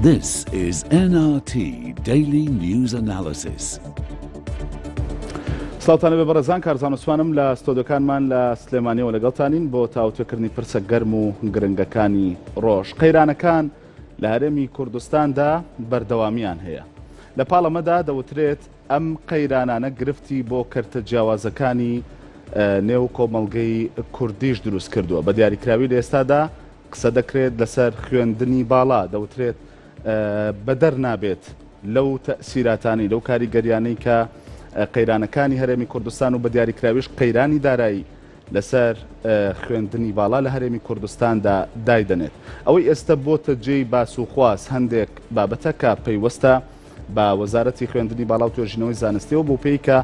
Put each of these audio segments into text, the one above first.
This is NRT Daily News Analysis. سڵاتانە بە بەڕێزان کارزانستوانم لە ستۆدەکانمان لە سلێمانیەوە لەگەڵتانین بۆ تاوتێکردنی پرسە گەرم و گرنگەکانی ڕۆژ قەیرانەکان لە هەرێمی کوردستاندا بەردەوامییان هەیە. لە پاڵ ئەمەدا دەوترێت ئەم قەیرانانە گرفتی بۆ کەرتە جیاوازەکانی نێو کۆمەڵگەی کوردیش دروست کردووە. بە دیاریکراوی لە ئێستادا قسە دەکرێت لەسەر خوێندنی باڵا، دەوترێت بەدەر نابێت لەو تەئسیراتانەی، لەو کاریگەریانەی کە قەیرانەکانی هەرێمی کوردستان و بە دیاریکراویش قەیرانی دارایی، لەسەر خوێندنی باڵا لە هەرێمی کوردستاندا دایدەنێت ئەوەی ئێستە بۆتە جێی باس و خواز هەندێک بابەتە کە پەیوەستە بە وەزارەتی خوێندنی باڵا و توێژینەوەی زانستیەوە بۆ پێی کە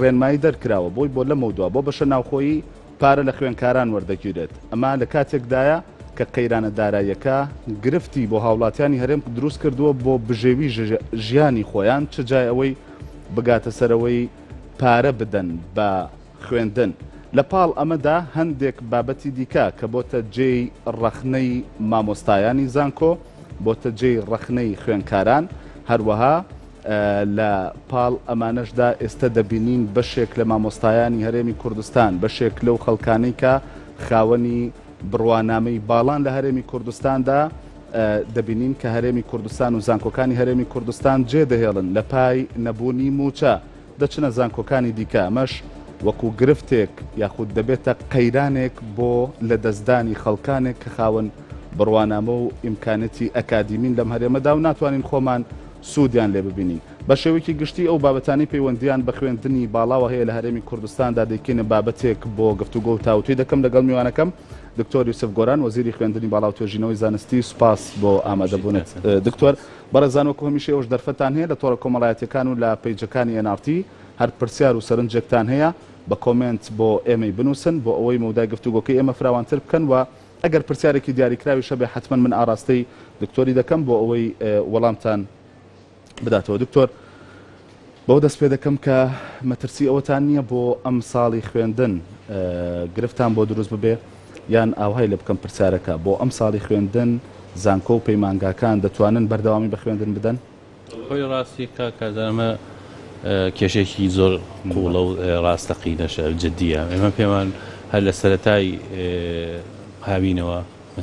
ڕێنمایی دەرکراوە بۆی بۆ لەمە دووە بۆ بەشە ناوخۆیی پارە لە خوێنکاران وەردەگیرێت ئەمە لە کاتێکدایە کە قەیرانە داراییەکە گرفتی بۆ هاوڵاتیانی هەرێم دروست کردووە بۆ بژێوی ژیانی خۆیان چ جای ئەوەی بگاتە سەرەوەی پارە بدەن بە خوێندن. لە پاڵ ئەمەدا هەندێک بابەتی دیکە کە بۆتە جێی ڕەخنەی مامۆستایانی زانکۆ، بۆتە جێی ڕەخنەی خوێنکاران، هەروەها لە پاڵ ئەمانەشدا ئێستە دەبینین بەشێک لە مامۆستایانی هەرێمی کوردستان، بەشێک لەو خەڵکانەی کە خاوەنی بڕوانامەی باڵان لە هەرێمی کوردستاندا، دەبینین کە هەرێمی کوردستان و زانکۆکانی هەرێمی کوردستان جێدەهێڵن لە پای نەبوونی مووچە. دەچنە زانکۆکانی دیکە، ئەمەش وەکو گرفتێک یاخود دەبێتە قەیرانێک بۆ لەدەستدانی خەڵکانێک کە خاوەن بڕوانامە و ئیمکانەتی ئەکادیمین لەم هەرێمەدا و ناتوانین خۆمان سودیان لێ ببینین. بە شێوەیەکی گشتی ئەو بابەتانەی پەیوەندییان بە خوێندنی باڵاوە هەیە لە هەرێمی کوردستاندا دەیکەینە بابەتێک بۆ گفتوگۆ و تاوتوێ دەکەم لەگەڵ میوانەکەم دکتۆر یوسف گۆران وەزیری خوێندنی باڵا و توێژینەوەی زانستی. سوپاس بۆ ئامادەبونت دکتۆر. بەڕێزان وەکو هەمیشە ئێوەش دەرفەتتان هەیە لە تۆڕە کۆمەڵایەتیەکان و لە پەیجەکانی ئێن ئاڕ تی هەر پرسیار و سەرنجێکتان هەیە بە کۆمێنت بۆ ئێمەی بنووسن بۆ ئەوەی مەودای گفتوگۆکەی ئێمە فراوانتر بکەن وە ئەگەر پرسیارێکی دیاریکراویش هەبێ حەتمەن من ئاڕاستەی دکتۆری دەکەم بۆ ئەوەی وەڵامتان بداتەوە دکتۆر بەوە دەست پێ دەکەم کە مەترسی ئەوەتان نییە بۆ ئەم ساڵی خوێندن گرفتان بۆ دروست ببێ یان ئاوهای لە بکەم پرسیارەکە بۆ ئەم ساڵی خوێندن زانکۆ و پەیمانگاکان دەتوانن بەردەوامی بە خوێندن بدەن؟ خۆی ڕاستی کا کازان ئەمە کێشێکی زۆر قوڵە و ڕاستەقینەشە جددیە ئێمە پێمان هەر لە سەرەتای هاوینەوە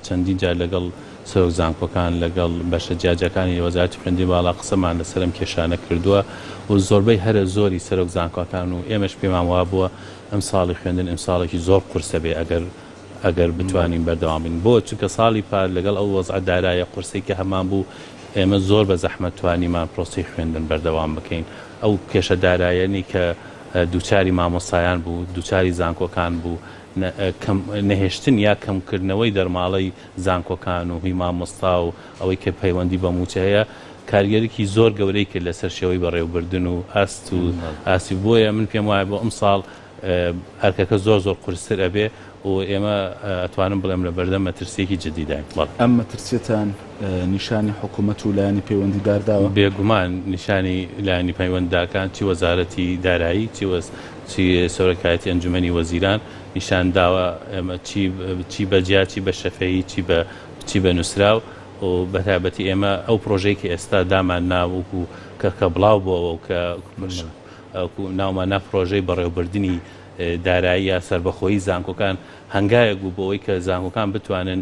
چەندین جار لەگەڵ سەرۆک زانکۆکان، لەگەڵ بەشە جیاجیاکانی وەزارەتی خوێندنی باڵا قسەمان لەسەر ئەم کێشانە کردووە و زۆربەی هەرە زۆری سەرۆک زانکۆکان و ئێمەش پێمان وابووە ئەمساڵی خوێندن ئمساڵێکی زۆر قورسە بێ ئەگەر ئەگەر بتوانین بەردەوام بین بۆ چونکە ساڵی پار لەگەڵ ئەو وەزعە دارایە قورسەی کە هەمان بوو ئێمە زۆر بە زەحمەت توانیمان پرۆسەی خوێندن بەردەوام بکەین ئەو کێشە دارایەنی کە دووچاری مامۆستایان بوو دووچاری زانکۆکان بوو نەهێشتن یا کەمکردنەوەی دەرماڵەی زانکۆکان و هی مامۆستا و ئەوەی کە پەیوەندی بە مووچە هەیە کارگێرکی زۆر گەورەی کرد لەسەر شێوەی بەڕێوبردن و ئاست و ئاستی بۆیە من پێم وایە بۆ ئەمساڵ ئەرکەکە زۆر زۆر قورستر ئەبێ و ئێمە ئەتوانم بڵێم لە بەردەم مەترسیەکی جدیداین. بەڵێ. ئەم مەترسیەتان نیشانی حکومەت و لایەنی پەیوەندیدار داوە؟ بێگومان نیشانی لایەنی پەیوەندداکان چی وەزارەتی دارایی چی سەرۆکایەتی ئەنجومەنی وەزیران نیشان داوە ئێمە چی چی بە جیا چی بە شەفەیی چی بە چی بە نووسراو و بە تایبەتی ئێمە ئەو پڕۆژەی کە ئێستا دامان نا وکو کە کە بڵاو بۆەوە و کە وەکو ناومان نا پڕۆژەی بەڕێوبردنی دارایی یا سەربەخۆیی زانکۆکان هەنگاوێک بوو بۆ ئەوەی کە زانکۆکان بتوانن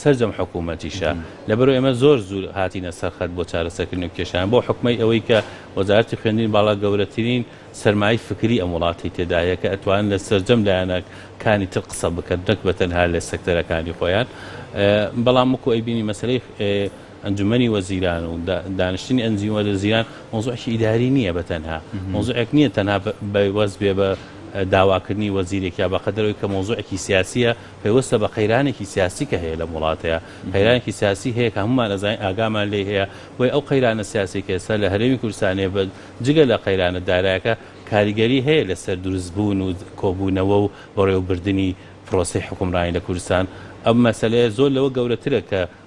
سەرجەم حکومەتیشە لەبەرو ئێمە زۆر زور هاتینە سەر خەت بۆ چارەسەرکردنو کێشەیان بۆ حکومەی ئەوەی کە وەزارەتی خوێندنی باڵا گەورەترین سەرمایەی فکری ئەم وڵاتی تێدا هەیە کە ئەتوانن لە سەرجەم لایەنە کانی تر قسە بکەن نەک بە تەنها لە سەکتەرە کانی خۆیان بەڵام وەکو ئەیبینی مەسەلەی ئەنجومەنی وەزیران و دانیشتنی ئەنجومەنی وەزیران مەوزوعێکی ئیداری نییە بە تەنها مەوزوعێک نییە تەنها بەوەست بێ بە داواکردنی وەزیرێک یا بەقەدەر ئەوەی کە مەوزوعێکی سیاسییە پەیوەستە بە قەیرانێکی سیاسی کە هەیە لەم وڵاتەیا قەیرانێکی سیاسی هەیە کە هەموومان ئەزانین ئاگامان لێی هەیە وەی ئەو قەیرانە سیاسی کە ئێستا لە هەرێمی کوردستانێ بە جگە لە قەیرانە دارایەکە کاریگەری هەیە لەسەر دروست بوون و کۆبوونەوە و بەڕێوەبردنی پرۆسەی حوکمڕانی لە کوردستان ئەم مەسەلەیە زۆر لەوە گەورەترە کە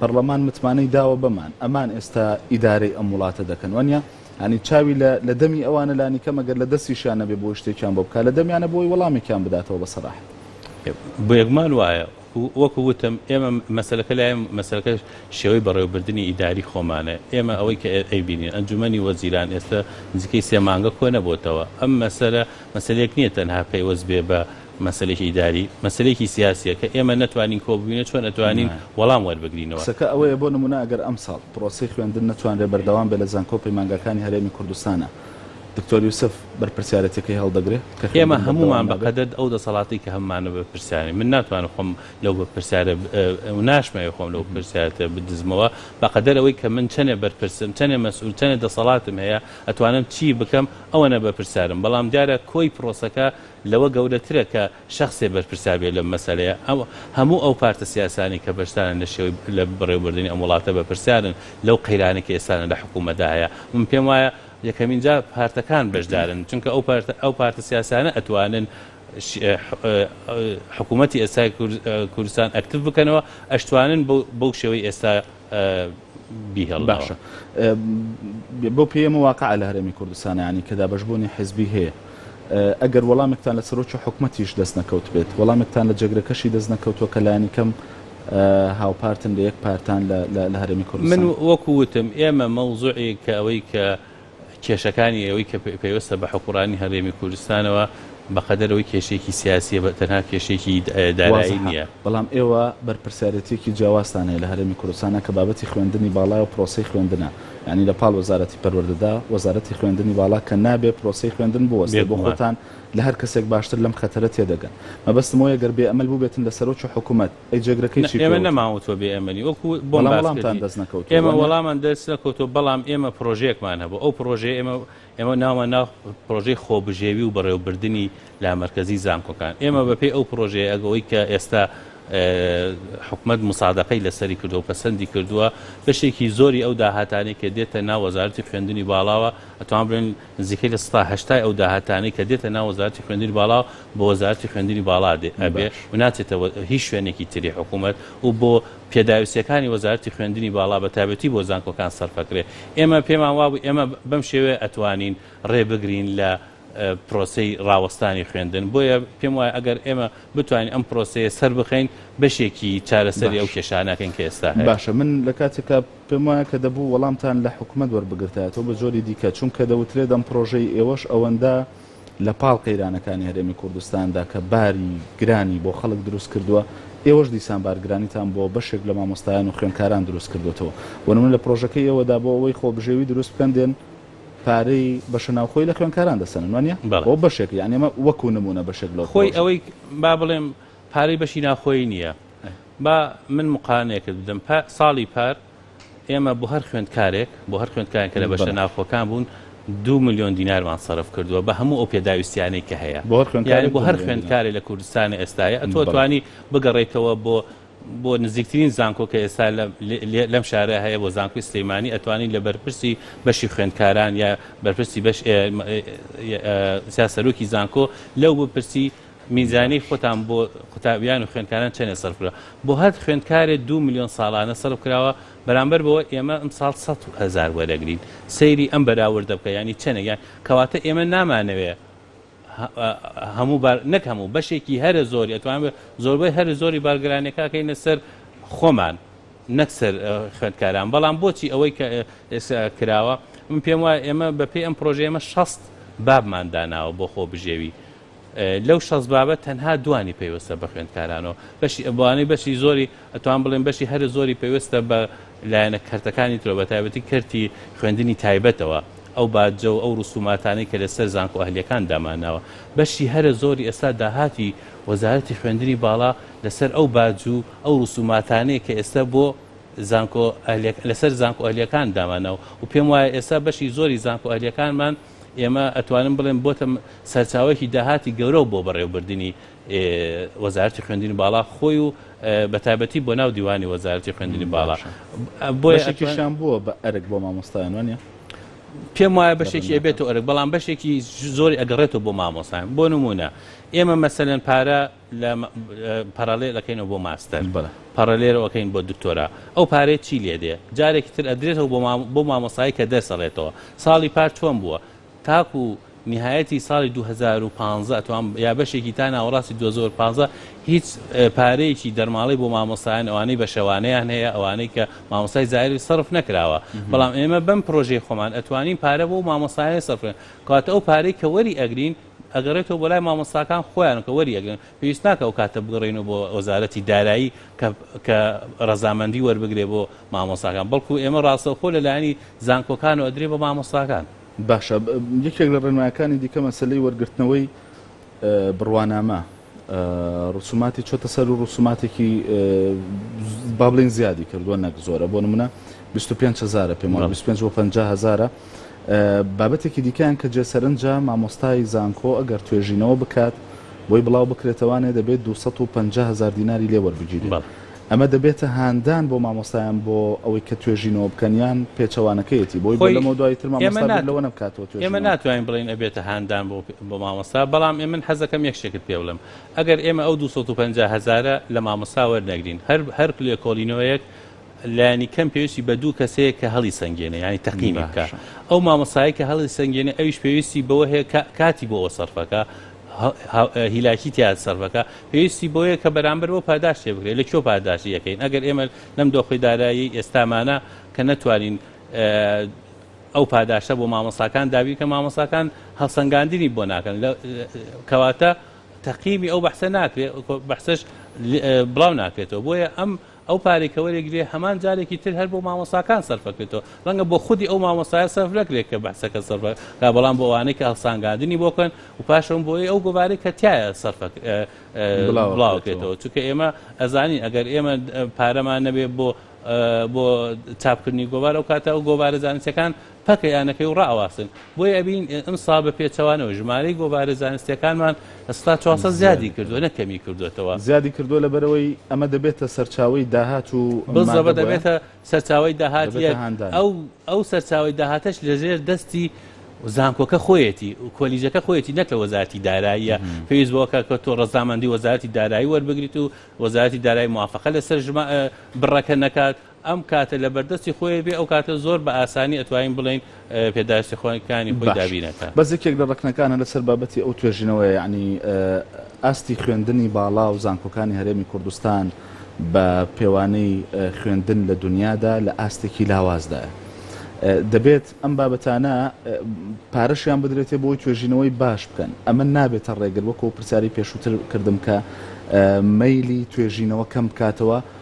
پەڕڵەمان متمانەی داوە بەمان ئەمان ئێستا ئیدارەی ئەم وڵاتە دەکەن وەنیا یانی چاوی لە لە دەمی ئەوانە لانی کەم ئەگەر لە دەستیشیان نەبێ بۆی شتێکیان بۆ بکا لە دەمیانە بۆی وەڵامێکیان بداتەوە بە سەراحەت. بێگومان وایە وەکو وتم ئێمە مەسەلەکە لای مەسەلەکە شێوەی بەڕێوەبردنی ئیداری خۆمانە ئێمە ئەوەی کە ئەیبینین ئەنجومەنی وەزیران ئێستا نزیکەی سێ مانگە کۆنەبۆتەوە ئەم مەسەلە مەسەلەیەک نیە تەنها پەیوەست بێ بە مەسەلەی ئیداری مەسەلەیەکی سیاسیە کە ئێمە نەتوانین کۆببینە چۆن ئەتوانین وەڵام وەربگرینەوە. قسەکە ئەوەیە بۆ نمونە ئەگەر ئەمساڵ پرۆسەی خوێندن نەتوانرێ بەردەوام بێ لە زانکۆو پەیمانگاکانی هەرێمی کوردستانا دکتۆر یوسف بەرپرسیارەتیەکەی هەڵدەگرێ کە خوێندن بەردەوام نابێ؟ ئێمە هەمومان بەقەدەد ئەو دەسەڵاتەی کە هەممانە بەرپرسیارین من ناتوانم خۆم لەو بەپرسیارە و ناشمەوێ خۆم لەو پرسیارەتە بدزمەوە بەقەدەر ئەوەی کە من چەنێ بەرپرسم چەنێ مەسئول چەنێ دەسەڵاتم هەیە ئەتوانم چی بکەم ئەوەنە بەپرسیارم بەڵام دیارە کۆی پرۆسەکە لەوە گەورەترە کە شەخسێ بەرپرسار بێت لەم مەسەلەیە. ئەو هەموو ئەو پارتە سیاسانەی کە بەشدارن لە شێوەی لە بەڕێوەبردنی ئەم وڵاتە بەپرسیارن لەو قەیرانەی کە ئێستانە لە حکوومەتدا هەیە. من پێم وایە یەکەمین جار پارتەکان بەشدارن چونکە ئەو پارتە ئەو پارتە سیاسانە ئەتوانن حکوومەتی ئێستای کوردستان ئەکتیڤ بکەنەوە ئەشتوانن بەو بەو شێوەی ئێستا بیهێڵنەوە. باشە بەو پێیە ئەمە واقعە لە هەرێمی کوردستان یانی کە دابەشبوونی حیزبی هەیە؟ ئەگەر وەڵامێکتان لە سەرۆکی حکومەتیش دەست نەکەوتبێت، وەڵامێکتان لە جێگرەکەشی دەست نەکەوتووە کە لانی کەم هاوپارتن لە یەک پارتان لە هەرێمی کوردستان؟ من وەکو وتم ئێمە مەوزوعی کە ئەوەی کە کێشەکانی ئێوەی کە پەیوەستە بە حوکمڕانی هەرێمی کوردستانەوە بە قەدەر ئەوەی کێشەیەکی سیاسییە بە تەنها کێشەیەکی دارایی نییە. بەڵام ئێوە بەرپرسیارێتییەکی جیاوازتان هەیە لە هەرێمی کوردستانا کە بابەتی خوێندنی باڵایە و پرۆسەی خوێندنە یانی لە پاڵ وەزارەتی پەروەردەدا وەزارەتی خوێندنی باڵا کە نابێ پرۆسەی خوێندن بوەستێ بۆ خۆتان لە هەر کەسێک باشتر لەم خەتەرە تێدەگەن مەبەستم ئەوەیە گەر بێ ئەمەل بووبێتن لە سەرۆکی حکومەت ئەی جێگرەکەی چی پێ وتوون؟ بەڵام وەڵامتان دەست نەکەوتووە؟ ئێمە وەڵامان دەست نەکەوتووە، بەڵام ئێمە پرۆژەیەکمان هەبوو، ئەو پرۆژەیە ئێمە ئێمە ناومان نا پرۆژەی خۆبژێوی و بەڕێوەبردنی لامەرکەزی زانکۆکان، ئێمە بە پێی ئەو پرۆژەیە ئەگەوەی کە ئێستا حکومەت مسادەقەی لەسەری کردووە و پەسەندی کردووە، بەشێکی زۆری ئەو داهاتانەی کە دێتە ناو وەزارەتی خوێندنی باڵاوە ئەتوان بڵێن نزیکەی لە سەدا هەشتای ئەو داهاتانەی کە دێتە ناو وەزارەتی خوێندنی باڵا بۆ وەزارەتی خوێندنی باڵا دێ ئەبێ باش. و ناچێتە هیچ شوێنێکی تری حکوومەت و بۆ پێداویستییەکانی وەزارەتی خوێندنی باڵا بە تایبەتی بۆ زانکۆکان سەرف ئەکرێ ئێمە پێمان وابوو ئێمە بەم شێوەیە ئەتوانین ڕێ بگرین لە پرۆسەی ڕاوەستانی خوێندن بۆیە پێم وایە ئەگەر ئێمە بتوانین ئەم پرۆسەیە سەر بخەین بەشێکی چارەسەری ئەو باش. کێشانە ئەکەین کە ئێستا هەیە. باشە من لە کاتێکا پێم وایە کە دەبوو وەڵامتان لە حکومەت وەربگرتایەتەوە بە جۆری دیکە، چونکە دەوترێت ئەم پڕۆژەی ئێوەش ئەوەندە لە پاڵ قەیرانەکانی هەرێمی کوردستاندا کە باری گرانی بۆ خەڵک دروست کردووە، ئێوەش دیسان بارگرانیتان بۆ بەشێک لە مامۆستایان و خوێندکاران دروست کردۆتەوە. بۆ نمونە لە پڕۆژەکەی ئێوەدا بۆ ئەوەی خۆبژێوی دروست بکەن دێن پارەی بەشە ناوخۆی لە خوێندکاران دەسەنن وانیە؟ بۆ بەشێک یانی ئەمە وەکو نمونە بەشێک لەو پڕۆژە. خۆی ئەوەی با بڵێم پارەی بەشی ناوخۆیی نییە. با من مقارنەیەکت بدەم ساڵی پار ئێمە بۆ هەر خوێندکارێک بۆ هەر خوێندکارێک کە لە بەشە ناوخۆکان بوون دو ملیۆن دینارمان سەرف کردووە بە هەموو ئەو پێداویستیانەی کە هەیە بۆ هەر خوێندکارێک بۆ هەر خوێندکارێک لە کوردستانی ئێستاە ئەتۆ توانی بگەڕێیتەوە بۆ بۆ نزیکترین زانکۆ کە ئێستا لەم شارە هەیە بۆ زانکۆی سلەیمانی ئەتوانین لە بەرپرسی بەشی خوێندکاران یا بەرپرسی بەش سیاسەرۆکی زانکۆ لەو بپرسی میزانیەی خۆتان بۆ قوتابیان و خوێندکاران چەنێ سەرف کرا؟ بۆ هەر خوێندکارێ دوو ملیۆن ساڵانە سەرف کراوە، بەرامبەر بەوە ئێمە ئەمساڵ سەد هەزار وەرەگرین. سەیری ئەم بەراوردە بکە یانی چەنێک یان کەواتە ئێمە نامانەوێ هەموو بار نەک هەموو بەشێکی هەرە زۆری ئەتوان زۆربەی هەرە زۆری بارگرانەکە کەینە سەر خۆمان نەک سەر خوێندکاران بەڵام بۆچی ئەوەی کە کراوە من پێم وایە ئێمە بەپێی ئەم پرۆژە ئێمە شەست بابمان داناوە بۆ خۆ بژێوی لەو شەست بابە تەنها دوانی پەیوەستە بە خوێندکارانەوە بەشی ئەبوانەی بەشی زۆری ئەتوان بڵێن بەشی هەرە زۆری پەیوەستە بە لایەنە کەرتەکانی ترۆ بە تایبەتی کەرتی خوێندنی تایبەتەوە ئەو باجە و ئەو ڕسوماتانەی کە لەسەر زانکۆ ئەهلیەکان دامانناوە بەشی هەرە زۆری ئێستا داهاتی وەزارەتی خوێندنی باڵا لەسەر ئەو باج و ئەو ڕسوماتانەیە کە ئێستا بۆ زانکۆ لەسەر زانکۆ ئەهلیەکان دامانەوە و پێم وایە ئێستا بەشی زۆری زانکۆ ئەهلیەکانمان ئێمە ئەتوانم بڵێم بۆتە سەرچاوەیەکی داهاتی گەورەو بۆ بەڕێوبردنی وەزارتی خوێندنی باڵا خۆی و بەتابەتی بۆ ناو دیوانی وەزارتی خوێندنی باڵا بۆیشان بووە بە ئەرک بۆ مامۆستایان وانە پێم وایە بەشێکی ئەبێتەوە ئەرک بەڵام بەشێکی زۆری ئەگەڕێتەوە بۆ مامۆستان بۆ نمونە ئێمە مەسەلەن پارە لە پارالێل ئەکەینەوە بۆ ماستەر پارالێرۆ ئەکەین بۆ دکتۆرا ئەو پارەیە چی لێ دێ جارێکی تر ئەدرێتەوە بۆ بۆ مامۆسایی کە دەرس ئەڵێتەوە ساڵی پار چۆن بووە تاکو نهایەتی ساڵی 2015 ئەتوان یا بەشێکی تا ناوەڕاستی 2015 هیچ پارەیەکی دەرماڵی بۆ مامۆسایان ئەوانەی بە شەوانەیان هەیە ئەوانەی کە مامۆسای زایری سەرف نەکراوە بەڵام ئێمە بەم پرۆژەی خۆمان ئەتوانین پارە بۆ مامۆسایە سەرفێن کاتە ئەو پارەی کە وەری ئەگرین ئەگەڕێتەوە بۆ لای مامۆستاکان خۆیان کە وەریەگرن پێویست ناکە ئەو کاتە بگەڕێنەوە بۆ وەزارەتی دارایی کە کە ڕەزامەندی وەربگرێ بۆ مامۆستاکان بەڵکو ئێمە ڕاستەوخۆ لە لایەنی زانکۆکانەوە ئەدرێ بە مامۆستاکان. باشە یەکێک لە ڕێنمایەکانی دیکە مەسەلەی وەرگرتنەوەی بڕوانامە. ڕسوماتی چۆتە سەر و ڕسوماتێکی با بڵێین زیادی کردووە نەک زۆرە بۆ نمونە 25 هزارە پێم وایە 25 بۆ 50 هزارە بابەتێکی دیکەیان کە جێسەرنجە مامۆستای زانکۆ ئەگەر توێژینەوە بکات بۆی بڵاو بکرێتەوانێ دەبێت 250 هزار دیناری لێوەربگیرێت ئەمە دەبێتە هاندان بۆ مامۆستایان بۆ ئەوەی کە توێژینەوە بکەن یان پێچەوانەکەیەتی بۆی بۆ خۆی لەمەو دوای تر ئێمە مامۆستا بیر نات لەوە نەبکاتەوە ئێمە توێژینەوە. ناتوانین بڵێین ئەبێتە هاندان بۆ بۆ مامۆستا بەڵام ئێمن حەز دەکەم یەک شتێکت پێ بڵێم ئەگەر ئێمە ئەو دوو سەد و پەنجا هەزارە لە مامۆستا وەرنەگرین هەر هەر لێکۆڵینەوەیەک لانی کەم پێویستی بە دوو کەس هەیە کە هەڵی سەنگێنێ یانی تەقینی بکا باشە. ئەو مامۆستایە کە هەڵی سەنگێنێ ئەویش پێویستی بەوە هەیە کە کاتی بۆ ئەوە سەرفەکا هیلاکی تیا سەرفەکە پێویستی بۆیە کە بەرامبەر بۆ پاداشت تێ بگرێت لە کۆ پاداشتی یەکەین ئەگەر ئێمە لەم دۆخی دارایی ئێستامانە کە نەتوانین ئەو پاداشتە بۆ مامۆساکان دابی کە مامۆساکان هەڵسەنگاندنی بۆ ناکەن کەواتە تەقیمی ئەو بەحسە ناکرێت بەحسش بڵاو ناکرێتەوە بۆیە ئەم ئەو پارەی کە وەریگرێ هەمان جارێکی تر هەر بۆ مامۆستاکان سەرفەکرێتەوە ڕەنگە بۆ خودی ئەو مامۆستایە سەرف نەکرێت کە بەحسەکە سەرف کا بەڵام بۆ ئەوانەی کە هەڵسانگاندنی بۆ کەن و پاشەوە بۆی ئەو گۆوارەی کە تایە سەرف بڵاوکرێتەوە چونکە ئێمە ئەزانین ئەگەر ئێمە پارەمان نەبێ بۆ بۆ چاپکردنی گۆوار ئەو کاتە ئەو گۆوارە زانستەکان پەکە یانەکەی و ڕائەواسن، بۆیە ئەبینین ئەمساڵ بە پێچەوانەوە ژمارەی گۆڤارە زانستییەکانمان لە سەدا چوار سەد زیادی کردووە نەک کەمی کردووەتەوە. زیادی کردووە لەبەرئەوەی ئەمە دەبێتە سەرچاوەی داهات و ئەم مادە بۆیە دەبێتە هاندان. بزەبە دەبێتە سەرچاوەی داهات یەک، ئەو ئەو سەرچاوەی داهاتەش لەژێر دەستی زانکۆکە خۆیەتی، کۆلیژەکە خۆیەتی نەک لە وەزارەتی داراییە، پێویست بەوە کە کە تۆ ڕەزامەندی وەزارەتی دارایی وەربگریت و وەزارەتی دارایی موافەقە لەسەر ژما بڕەکە نەکات، ئەم کاتە لە بەردەستی خۆێ بێ ئەو کاتە زۆر بە ئاسانی ئەتوانین بڵێین پێداویستی خۆەکانی خۆی باش دابین ئەکا. بەس یەکێک لە ڕەکنەکانە لەسەر بابەتی ئەو توێژینەوەیە یەعنی ئاستی خوێندنی باڵا و زانکۆکانی هەرێمی کوردستان بە پێوانەی خوێندن لە دونیادا لە ئاستێکی لاوازدایە دەبێت ئەم بابەتانە پارەشیان بدرێتێ بۆی توێژینەوەی باش بکەن ئەمە نابێتە ڕێگر وەکو پرسیاری پێشووتر کردم کە مەیلی توێژینەوە کەم بکاتەوە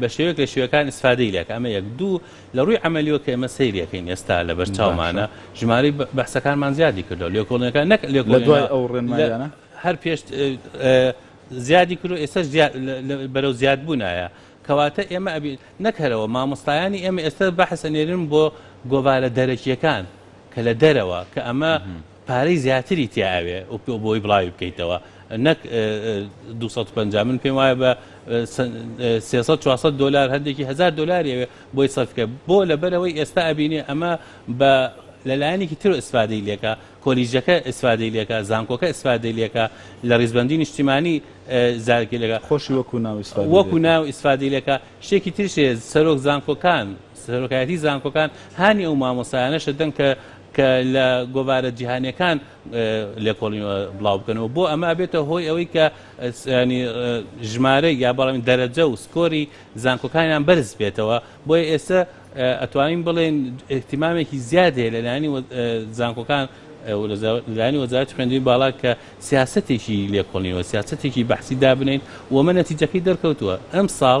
بە شێوەیەک لە شێوەکان ئیسفادەی لێکە ئەمە یەک دوو لە ڕووی عملیەوە کە ئێمە سەیرەکەین ئێستا لە بەر چاومانە ژماری بەحسەکانمان زیادی کردو لێکۆڵنەکە نەک لێک لە دوای ئەو ڕێنمایانە هەر پێشت زیادی کرد و ئێستا بەرەو زیاد بوونایە کەواتە ئێمە ئەبی نەکەرەوە مامۆستایانی ئێمە ئێستا بەحسە نێرن بۆ گۆوارە دەرەکیەکان کە لە دەرەوە کە ئەمە پارەی زیاتری تیا ئەوێ بۆی بڵاوی بکەیتەوە نەک دوو سەد و پەنجا من پێم وایە بە سێ سەد چوار سەد دۆلار هەندێکی هەزار دۆلاری ئەوێ بۆی سەرف بکە بۆ لەبەرەوەی ئێستا ئەبینێ ئەمە بە لەلایەنێکی تر ئیسفادەی لێکە کۆلیژەکە ئیسفادەی لێکە زانکۆکە ئیسفادەی لێکە لە ڕیزبەندی نیشتیمانی زارکی لەکە خۆشی وەکو ناو ئیسفادەی وەکو ناو ئیسفادەی لێکە شتێکی تریش هەیە سەرۆک زانکۆکان سەرۆکایەتی زانکۆکان هانی ئەو مامۆستایانەش دەدەن کە کە لە گۆڤارە جیهانیەکان لێکۆڵینەوە بڵاو بکەنەوە بۆ ئەمە ئەبێتە هۆی ئەوەی کە ینی ژمارە یا بەڵام دەرەجە و سکۆری زانکۆکانیان بەرز بێتەوە بۆیە ئێستا ئەتوانین بڵێن احتیمامێکی زیاد هەیە لەلایانی زانکۆکان لانی وەزارت خوێندوی باڵا کە سیاستێکی لێکۆڵینەوە سیاستێکی بەحسی دابنین ومە نەتیجەکەی دەرکەوتووە ئەم ساڵ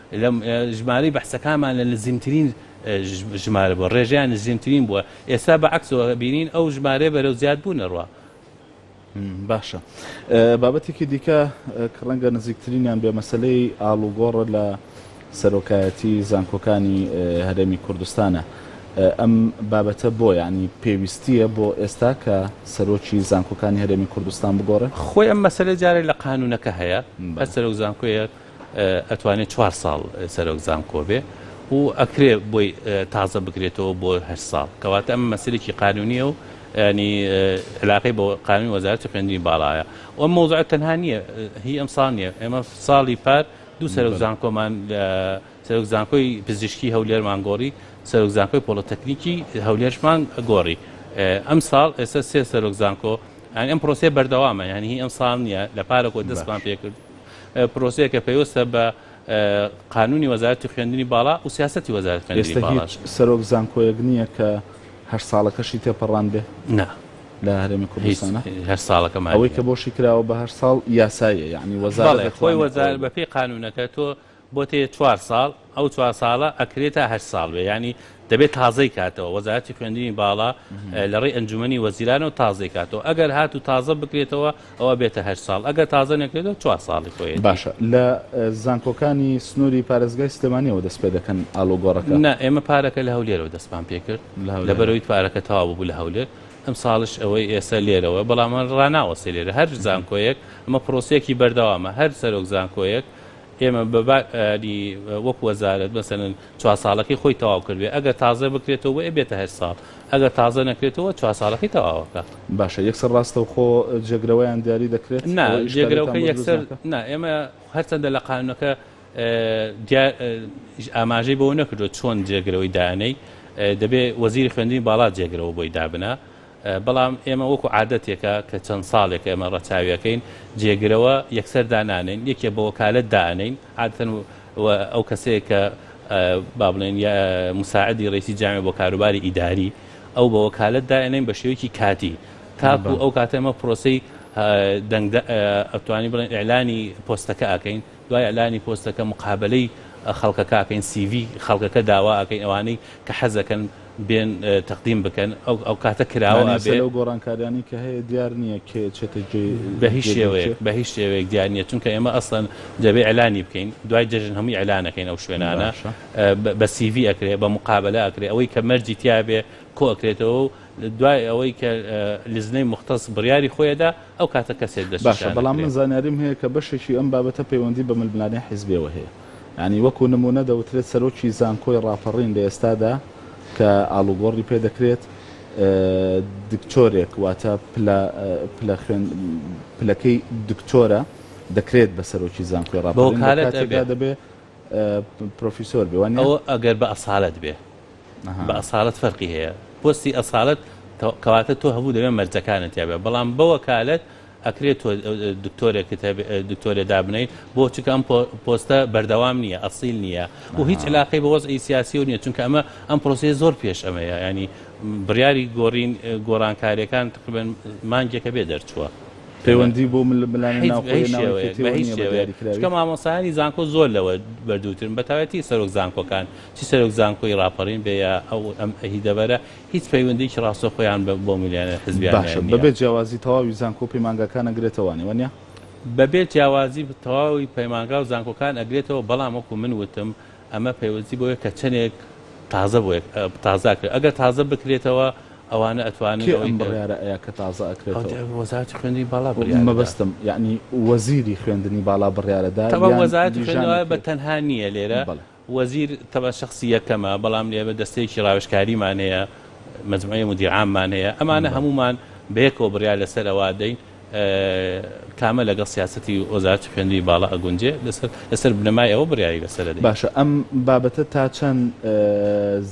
لە ژمارەی بەحسەکانمان لە نزیمترین ژمارە بووە، ڕێژەیان نزیمترین بووە، ئێستا بە عەکسەوە ئەبینین ئەو ژمارەیە بەرەو زیادبوون ئەڕوا. باشە بابەتێکی دیکە کە ڕەنگە نزیکترینیان بێ مەسەلەی ئاڵوگۆڕە لە سەرۆکایەتی زانکۆکانی هەرێمی کوردستانە ئەم بابەتە بۆ یانی پێویستیە بۆ ئێستا کە سەرۆکی زانکۆکانی هەرێمی کوردستان بگۆڕێ؟ خۆی ئەم مەسەلە جارێک لە قانونەکە هەیە هەر سەرۆک زانکۆیەک ئەتوانێ چوار ساڵ سەرۆک زانکۆ بێ و ئەکرێ بۆی تازە بکرێتەوە بۆ هەشت ساڵ کەواتە ئەمە مەسەلێکی قانونیە و ینی علاقەی بە قانونی وەزارەتی خوێندنی باڵایە و ئەم مەوزوعە تەنها نییە هی ئەم ساڵ نییە ئێمە ساڵی پار دوو سەرۆک زانکۆمان لە سەرۆک زانکۆی پزیشکی هەولێرمان گۆڕی سەرۆک زانکۆی پۆڵۆتەکنیکی هەولێرشمان گۆڕی ئەم ساڵ ئێستا سێ سەرۆک زانکۆ یعنی ئەم پرۆسەیە بەردەوامە یعنی هی ئەم ساڵ نییە لە پارەوە دەستمان پێ کرد پرۆسەیەکە پەیوەستە بە قانونی وەزارەتی خوێندنی باڵا و سیاسەتی وەزارەت خوێندنی باڵاش سەرۆک زانکۆیەک نییە کە هەر ساڵەکەشی تێپەڕان بێ نا لە هەرێمی کوردستانە هەر ساڵەکە ئەوەی کە بۆشی کراوە بە هەر ساڵ یاسایە یعنی وەزارە خۆی وەزار بەپی قانونەکە تۆ بۆتێ چوار ساڵ ئەو چوار ساڵە ئەکرێ تا هەشت ساڵ بێ یانی دەبێت تازەی کاتەوە وەزارەتی خوێندنی باڵا لە ڕێی ئەنجومەنی وەزیرانەوە تازەی کاتەوە ئەگەر هات و تازە بکرێتەوە ئەوە بێتە هەشت ساڵ ئەگەر تازە نەکرێتەوە چوار ساڵی خۆی باشە لە زانکۆکانی سنووری پارێزگای سلێمانیەوە دەست پێ دەکەن ئالۆگۆڕەکە نا ئێمە پارەکە لە هەولێرەوە دەستمان پێ کرد لە بەرەوەی پارەکە تەوا بوو لە هەولێر ئەم ساڵش ئەوەی ئێستا لێرەوە بەڵام ڕناوەسێ لێرە هەر زانکۆیەک ئەمە پرۆسیەکی بەردەوامە هەر سەرۆک زانکۆیەک ئێمە بە با ی وەک وەزارەت مەسەلەن چوار ساڵەکەی خۆی تەواو کردبێ ئەگەر تازە بکرێتەوە بۆ ئەبێتە هەشت ساڵ ئەگەر تازە نەکرێتەوە چوار ساڵەکەی تەواوەکە. باشە یەکسەر ڕاستەوخۆ جێگرەوەیان دیاری دەکرێت؟ نا ئەوە جێگرەوەکە ئیشکالێتان بۆ دروست یەکسەر ناکا؟ نا ئێمە هەرچەندە لە قانونەکە دیا ی ئاماژەی بەوە نەکردووە چۆن جێگرەوەی دانێی دەبێ وەزیری خوێندنی باڵا جێگرەوە بۆی دابنا بەڵام ئێمە وەکو عادەتێکە کە چەند ساڵێکە ئێمە ڕەچاوی ئەکەین، جێگرەوە یەکسەر دانانێین، یەکێ بە وەکالەت دائەنێین، عادەتەن و ئەو کەسەیە کە با بڵێین یا موساعدی ڕەیسی جامعە بۆ کاروباری ئیداری، ئەو بە وەکالەت دائەنێین بە شێوەیەکی کاتی، تاکو ئەو کاتە ئێمە پرۆسەی دەنگ ئەتوانی بڵێین ئیعلانی پۆستەکە ئەکەین. دوای ئیعلانی پۆستەکە مقابەلەی خەڵکەکە ئەکەین سی ڤی خەڵکەکە داوا ئەکەین ئەوانەی کە حەزەکەن بێن تەقدیم بکەن ئەو کاتە کراوە ئەبێ. یانی ئێستا لەو گۆڕانکاریانەی کە هەیە دیار نییە کێ ئەچێتە جێی جێگەی کێ؟ بەهیچ شێوەیەک بەهیچ شێوەیەک دیار نییە چونکە ئێمە ئەسڵەن دەبێ ئیعلانی بکەین دوای جەژن هەمووی ئیعلان ئەکەین ئەو شوێنانە باشە. بە سی ڤی ئەکرێ بە مقابەلە ئەکرێ ئەوەی کە مەرجی تیابێ کۆ ئەکرێتەوەو دوای ئەوەی کە لیزنەی موختەس بڕیاری خۆی ئەدا ئەو کاتە کەسێک دەست باشە بەڵام من زانیاریم هەیە کە بەشێکی ئەم بابەتە پەیوەندی بە ململانێ حیزبیەوە هەیە یانی وەکو نمونە دەوترێت سەرۆکی زانکۆی ڕاپەڕین لە ئێستادا کە ئاڵوگۆڕی پێ دەکرێت دکتۆرێک واتە پلە پلە خوێن پلەکەی دکتۆرە دەکرێت بە سەرۆکی زانکۆی ڕاپەڕین لە کاتێکدا دەبێت پرۆفیسۆر بێ وانە ئەوە ئەگەر بە ئەسالەت بێ بە ئەسالەت فەرقی هەیە پۆستی ئەسالەت کەواتە تۆ هەبوو دەبێ مەرجەکانت یابێ بەڵام بە وەکالەت ئەکرێت تۆ دکتۆرێکت دکتۆرێ دابنەی بۆ چونکە ئەم پۆستە بەردەوام نییە ئەسیل نییە و هیچ علاقی بە وەزعی سیاسی و نییە چونکە ئەمە ئەم پرۆسی زۆر پێش ئەمەیە ینی بڕیاری گۆڕین گۆڕانکاریەکان تقریبن مانگێکە بێ دەرچووە. پەیوەندی بۆ ململانە ناوخۆیە مامۆسایانی زانکۆ زۆر لەوە بەردووترن بە تایەتی سەرۆک زانکۆکان چ سەرۆک زانکۆی ڕاپەڕین بێ یا ئەو ئەم هی دەبەرە هیچ پەیوەندیەکی ڕاستەخۆیان بە بۆ ملیۆنێر حزبیانیان باشە بەبێ نیە. جیاوازی تەواوی زانکۆ و پەیمانگاکان ئەگرێتەوە نیە وەنیە؟ بەبێ جیاوازی تەواوی پەیمانگا و زانکۆکان ئەگرێتەوە بەڵام وەکو من وتم ئەمە پەیوەستی بەوەیە کە چەنێک تازە بۆ یەک تازە ئەکرێت ئەگەر تازە بکرێتەوە ئەوانە ئەتوانن کێ ئەوەی ئەم کە بڕیارە ئەیا کە تازە ئەکرێتەوە؟ ئەوەندی وەزارەتی خوێندنی باڵا بڕیار دەدا. مەبەستم یەعنی وەزیری خوێندنی باڵا بڕیارە دا تەبەن یان وەزارەتی لیژانێک خوێندنەوە بە کرێت؟ تەنها نیە لێرە بەڵێ. وەزیر تەبعەن شەخسی یەکەمە، بەڵام ئێمە دەستەیەکی ڕاوێژکاریمان هەیە، مجموعەی مدیر عاممان هەیە، ئەمانە هەموومان بەیەکەوە بڕیار لەسەر ئەوە ئەدەین کامە لەگەڵ سیاسەتی وەزارەتی خوێندنی باڵا ئەگونجێ، لەسەر بنەمای ئەوە بڕیاری لەسەر ئەدەین. باشە ئەم بابەتە تا چەند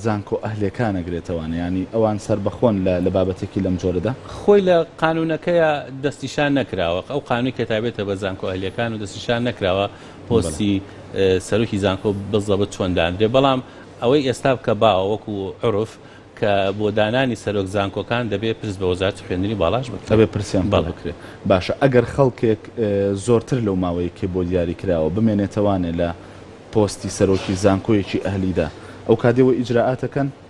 زانکۆ ئەهلیەکان ئەگرێتەوانە؟ یانی ئەوان سەربەخۆن لە بابەتێکی لەم جۆرەدا؟ خۆی لە قانوونەکەیا دەستنیشان نەکراوە، ئەو قانوونەی کە تایبەتە بە زانکۆ ئەهلیەکان و دەستنیشان نەکراوە پۆستی سەرۆکی زانکۆ بزەبت چۆن داندرێ بەڵام ئەوەی ئێستا بکە باوە وەکو عورف کە بۆ دانانی سەرۆک زانکۆکان دەبێ پرس بە وەزارەتی خوێندنی باڵاش بکرێ. ئەبێ پرسیان بۆ بکرێ. باشە ئەگەر خەڵکێک زۆرتر لەو ماوەی کە بۆ دیاری کراوە بمێنێتەوانێ لە پۆستی سەرۆکی زانکۆیەکی ئەهلیدا ئەو کادێوە ئیجرائاتەکەن؟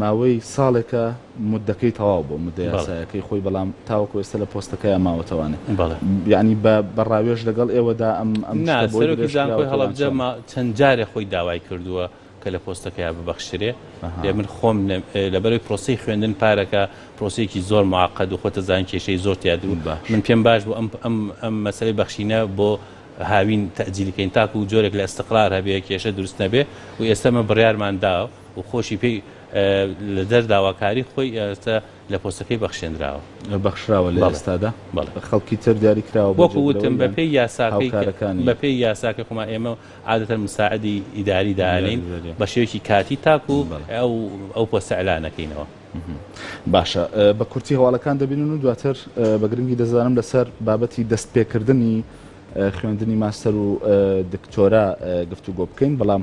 ماوەی ساڵێکە موددەکەی تەواو بووە، موددە یاسایەکەی خۆی، بەڵام تاوەکو ئێستا لە پۆستەکەیا ماوەتەوانێ. یەعنی بە ڕاوێژ لەگەڵ ئێوەدا ئەم شتە بۆی درێژکراوەتە یان چۆن؟ نا، سەرۆکی زانکۆی هەڵەبجە چەند جارێ خۆی داوای کردووە کە لە پۆستەکەیا ببەخشرێ. ئێ من خۆم لەبەرئەوەی پرۆسەی خوێندن پارەکە پرۆسەیەکی زۆر موعەقەد و خۆت ئەزانی کێشەی زۆر تیاد بوو، من پێم باش بوو ئەم مەسەلەی بەخشینە بۆ هاوین تەئجیل کەین تاکو جۆرێک لە ئیستقرار هەبێ، کێشە دروست نەبێ و ئێستا ئێمە بڕیارمان دا، و خۆشی پێی لە دەر داواکاری خۆی ئێستا لە پۆستەکەی بەخشێنراوە. بەخشراوە لە ئێستادا بە خەڵکی تر دیاری کراوە بۆ جێگرەوەی یان هاوکارەکانی. وەکو وتم بە پێی یاساکەی بە پێی یاساکەی خۆمان ئێمە عادەتەن مساعدی ئیداری دانێین بە شێوەیەکی کاتی تاکو ئەو پۆستە ئیعلان نەکەینەوە. باشە بە کورتی هەواڵەکان دەبینن و دواتر بە گرنگی دەزانم لەسەر بابەتی دەست پێکردنی خوێندنی ماستەر و دکتۆرا گفتوگۆ بکەین بەڵام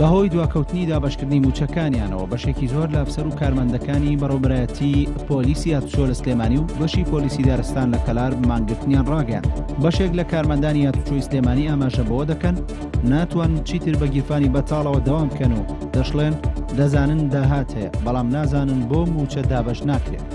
بەهۆی دواکەوتنی دابشکردنی موچەکانیانەوە بەشێکی زۆر لە ئەفسەر و کارمەندەکانی بەڕۆبرایەتی پۆلیسی یادچۆ لە سلێمانی و بەشی پۆلیسی دارستان لە کەلار مانگرتنیان ڕاگەیان بەشێک لە کارمەندانی یاتوچۆی سلێمانی ئاماژە بەوە دەکەن ناتوان چیتر بە گیرفانی بەتاڵەوە دەوام بکەن و دەشڵێن دەزانن داهات هەیە بەڵام نازانن بۆ موچە دابش ناکرێت.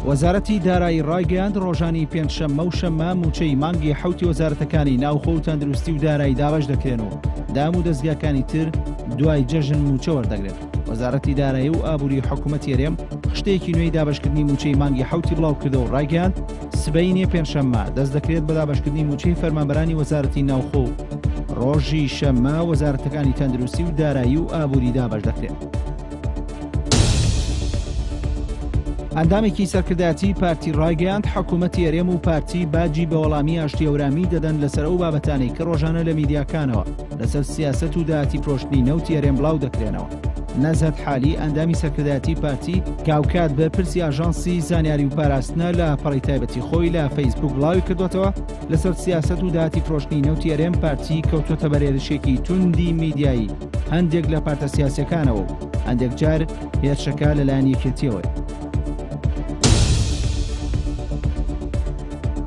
وەزارەتی دارایی ڕایگەیاند ڕۆژانی پێنجشەممە و شەممە موچەی مانگی حوتی وەزارەتەکانی ناوخۆ و تەندروستی و دارایی دابش دەکرێن و دام و دەستگاکانی تر دوای جەژن موچە وەردەگرن. وەزارەتی دارایی و ئابووری حکوومەت یەرێم خشتێکی نوێی دابشکردنی موچەی مانگی حوتی بڵاو کردە و ڕایگەیان سبینێ پێنجشەممە دەست دەکرێت بە دابشکردنی موچەی فەرمانبەرانی وەزارەتی ناوخۆ ڕۆژی شەممە وەزارەتەکانی تەندروستی و دارایی و ئابووری دابش دەکرێت. ئەندامێکی سەرکردایەتی پارتی ڕایگەیاند حکوومەت یەرێم و پارتی باجی بەوەڵامی ئاشتی ئەورامی دەدەن لەسەر ئەو بابەتانی کە ڕۆژانە لە میدیاکانەوە لەسەر سیاسەت و داهاتی فرۆشتنی نەوتی هەرێم بڵاو دەکرێنەوە. نەزهەت حالی ئەندامی سەرکردایەتی پارتی کە هاوکات بەرپرسی ئاژانسی زانیاری و پاراستنە لە پەڕی تایبەتی خۆی لە فەیسبووک بڵاوی کردوەتەوە لەسەر سیاسەت و داهاتی فرۆشتنی نەوتی هەرێم پارتی کەوتوەتە بەر هێرشێکی توندی میدیایی هەندێک لە پارتە سیاسیەکانەوە و هەندێک جار هێرشەکە لەلایەن یەکێتیەوەی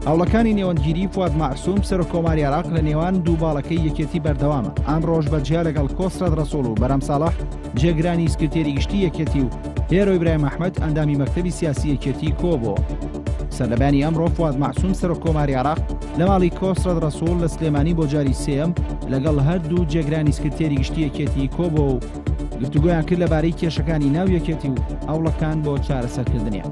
هەوڵەکانی نێوەندگیری فواد مەعسوم سەرۆک کۆماری عێراق لە نێوان دوو باڵەکەی یەکێتی بەردەوامە ئان ڕۆژ بە جیا لەگەڵ کۆسرەت ڕەسوڵ و بەرام ساڵح جێگرانی سکرتێری گشتی یەکێتی و هێرۆ ئیبراهیم ئەحمەد ئەندامی مەکتەبی سیاسی یەکێتی کۆبۆ سەردەبانی ئەمڕۆ فواد مەعسوم سەرۆک کۆماری عێراق لە ماڵی کۆسرەت ڕەسوڵ لە سلێمانی بۆ جاری سێم لەگەڵ هەردوو جێگرانی سکرتێری گشتی یەکێتی کۆبۆ و گفتوگویان کرد لەبارەی کێشەکانی ناو یەکێتی و هەوڵەکان بۆ چارەسەرکردنیان.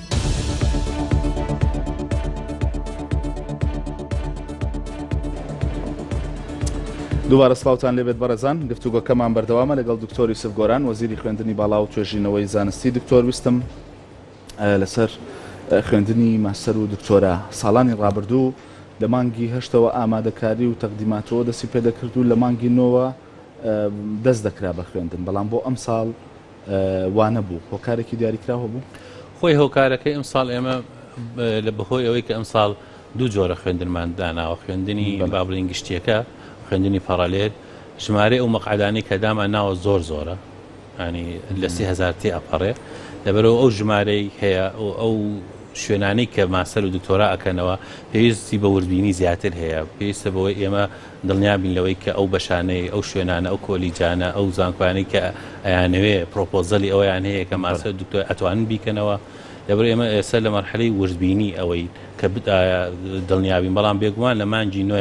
دووبارە سلااوان لێبێت بەڕێزان گفتوگۆکەمان بەردەوامە لەگەڵ دکتۆری سفگۆران وەزیری خوێندنی باڵا و توێژینەوەی زانستی دکتۆر ویستم لەسەر خوێندنی ماستەر و دکتۆرە ساڵانی ڕابردوو لە مانگی هەشتەوە ئامادەکاری و تەقدیماتەوە دەستی پێدەکرد و لە مانگی نۆوە دەست دەکرا بە خوێندن بەڵام بۆ ئەم ساڵ وانە بوو هۆکارێکی دیاریکراو هەبوو؟ خۆی هۆکارەکەی ئەمساڵ ئێمە لە بەهۆی ئەوەی کە ئەمساڵ دوو جۆرە خوێندنمان داناوە خوێندنی بابلین گشتیەکە خوێندنی پارالێل ژمارە ئەو مەقعدانی کە دامان ناوە زۆر زۆرە ینی لە سی هزار تێ ئەپەڕێ لەبەرەوە ئەو ژمارەی هەیە ئەو شوێنانی کە ماسەر و دکتۆرا ئەکەنەوە پێویستی بە وردبینی زیاتر هەیە پێویستە بەوەی ئێمە دڵنیابین لەوەی کە ئەو بەشانەی، ئەو شوێنانە، ئەو کۆلیجانە، ئەو زانکۆیانەی کە ئەیانەوێ پرۆپۆزەلی ئەوەیان هەیە کە ماستەر دکتۆر ئەتوانن بیکەنەوە، لەبەر ئێمە ئێستا لە مەرحەلەی وردبینی ئەوەین کە ئایا دڵنیابین، بەڵام بێگومان لە مانگی نۆ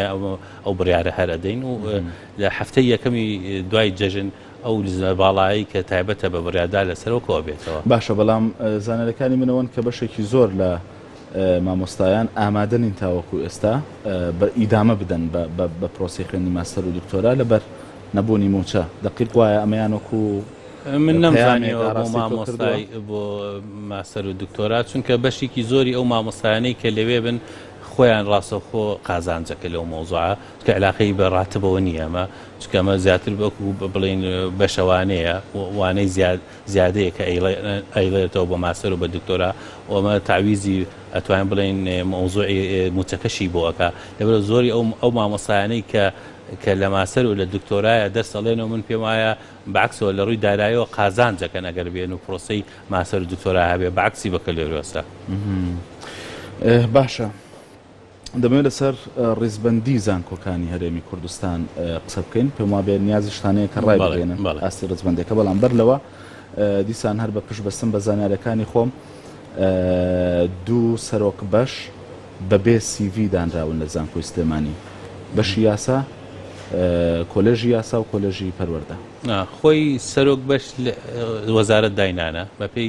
ئەو بڕیارە هەر ئەدەین و لە هەفتەی یەکەمی دوای جەژن ئەو لزە باڵایەی کە تایبەتە بە بڕیاردان لەسەرەوە کۆبێتەوە. باشە بەڵام زانیاریەکانی من ئەوەن کە بەشێکی زۆر لە. مامۆستایان ئامادە نین تاوەکو ئێستا ئیدامە بدەن بە پرۆسەی خوێندنی ماستەر و دکتۆرا لەبەر نەبوونی مووچە دەقیق وایە ئەمەیان وەکو من نەمزانیەوە بۆ مامۆستای بۆ ماستەر و دکتۆرا چونکە بەشێکی زۆری ئەو مامۆستایانەی کە لەوێ بن خۆیان ڕاستەخۆ قازانجەکە لەو مۆزوع کە علاقەی بە ڕاتبەوە نییە ئەمە چکەمە زیاتر بەکو بڵین بەشەوانەیە وانەی زیاد زیادەیە کە ئەیڵێرتەوە بە ماستەر و بە دکتۆرا و ئەمە تەعویزی ئەتوانین بڵێین مەوزوعی موچەکەشی بۆ ئەکا لەبەرە زۆری ئەو ئەو مامۆستایانەی کە کە لە ماستەر و لە دکتۆرایە دەرس ئەڵێن و من پێم وایە بەعکسەوە لە ڕووی دارایەوە قازانجەکەن ئەگەر بێن و پرۆسەی ماستەر و دکتۆرا هەبێ بەعکسی بەکەلێریۆسە باشە. دەمەوێت لەسەر ڕیزبەندی زانکۆکانی هەرێمی کوردستان قسە بکەین پێم وابێت نیازی شتانەیە کە ڕای بگەێنن ئاستی ڕزبندەکە بەڵام بەر لەوە دیسان هەر بە پشت بەستم بە زانارەکانی خۆم دوو سەرۆک بەش بەبێ سیV دانراون لە زانکۆی سلێمانی بەشی یاسا کۆلێژی یاسا و کۆلێژی پەروەەردە خۆی سەرۆک بەش وەزارت داینانە بەپی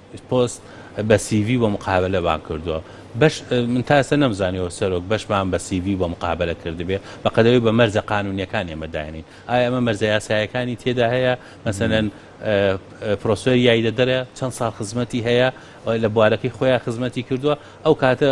پۆست بە سی ڤی بۆ مقابەلەبان کردوە بەش من تا ئێستا نەمزانیوە سەرۆک بەشمان بە سی ڤی بۆ مقابەلە کردبێ بەقەدەوەی بە مەرجە قانونیەکان ئێمە داینین ئایا ئەمە مەرجە یاسایەکانی تێدا هەیە مەسەلەن پرۆسۆر یایدەدەرە چەند ساڵ خزمەتی هەیە لە بوارەکەی خۆیان خزمەتی کردوە ئەو کاتە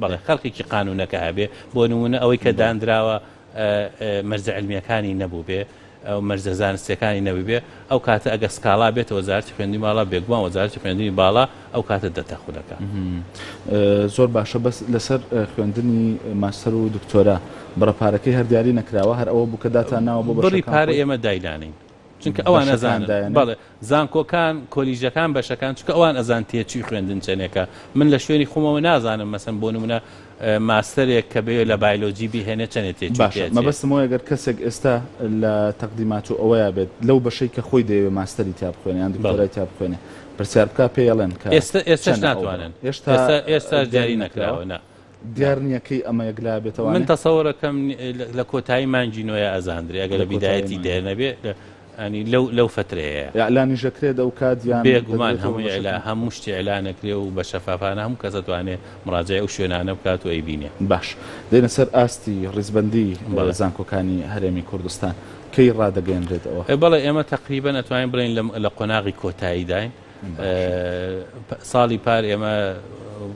بەڵێ خەرقێکی قانوونەکە ئەبێ، بۆ نموونە ئەوەی کە داندراوە مەرجە عیلمییەکانی نەبووبێ و مەرجە زانستییەکانی نەبووبێ، ئەو کاتە ئەگەر سکاڵا بێتە وەزارەتی خوێندنی باڵا، بێگومان وەزارەتی خوێندنی باڵا ئەو کاتە دەتە خولەکە. زۆر باشە بەس لەسەر خوێندنی ماستەر و دکتۆرا بڕە پارەکەی هەر دیاری نەکراوە هەر ئەوە بوو کە داتان ناوە بۆ بەشەکان خۆی؟ بڕی پارە ئێمە داینانەین. چونکە ئەوان ئەزان بەڵێ زانکۆکان کۆلیژەکان بەشەکان چکە ئەوان ئەزان تێچوی خوێندن چەنێکە من لە شوێنی خۆمەوە نازانم مەسم بۆ نمونە ماستەرێک کە بێ لە بایلۆجی بهێنێ چەنێت تێ مەبەستمەوە گەر کەسێک ئێستا لە تەقدیمات و ئەوەیە بێت لەو بەشەی کە خۆی دەیەوێت ماستەری تا بخوێنێ یان دکتۆرای تا بخوێنێ پرسیار بکە پێڵێن کە ئێستا ئێستا ناتوانن ئێستا ئێستا دیاری نەکراوە. دیار نیە کەی ئەمە یەکلا بێتەوە من تەسەوەرەکەم لە کۆتایی مانگی نۆیە ئەزاندرێ ئەگەر لە بیدایەتی دێ نەبێ ئەنی لەو لەو فترەیە ئەلانیژەکرێت ئەو کات یان بێگومان هەمووی لە هەموو شتی ئەلانەکرێ و بە شەفافانە هەموو کەس دەتوانێ مراجعی ئەو شوێنانە بکات و ئەیبینێ باش دێنە سەر ئاستی ڕیزبەندی زانکۆکانی هەرێمی کوردستان کەی ڕادەگەیەنرێت ئەوە؟ بەڵێ ئێمە تەقریبەن ئەتوانین بڵێین لە قۆناغی کۆتاییداین ساڵی پار ئێمە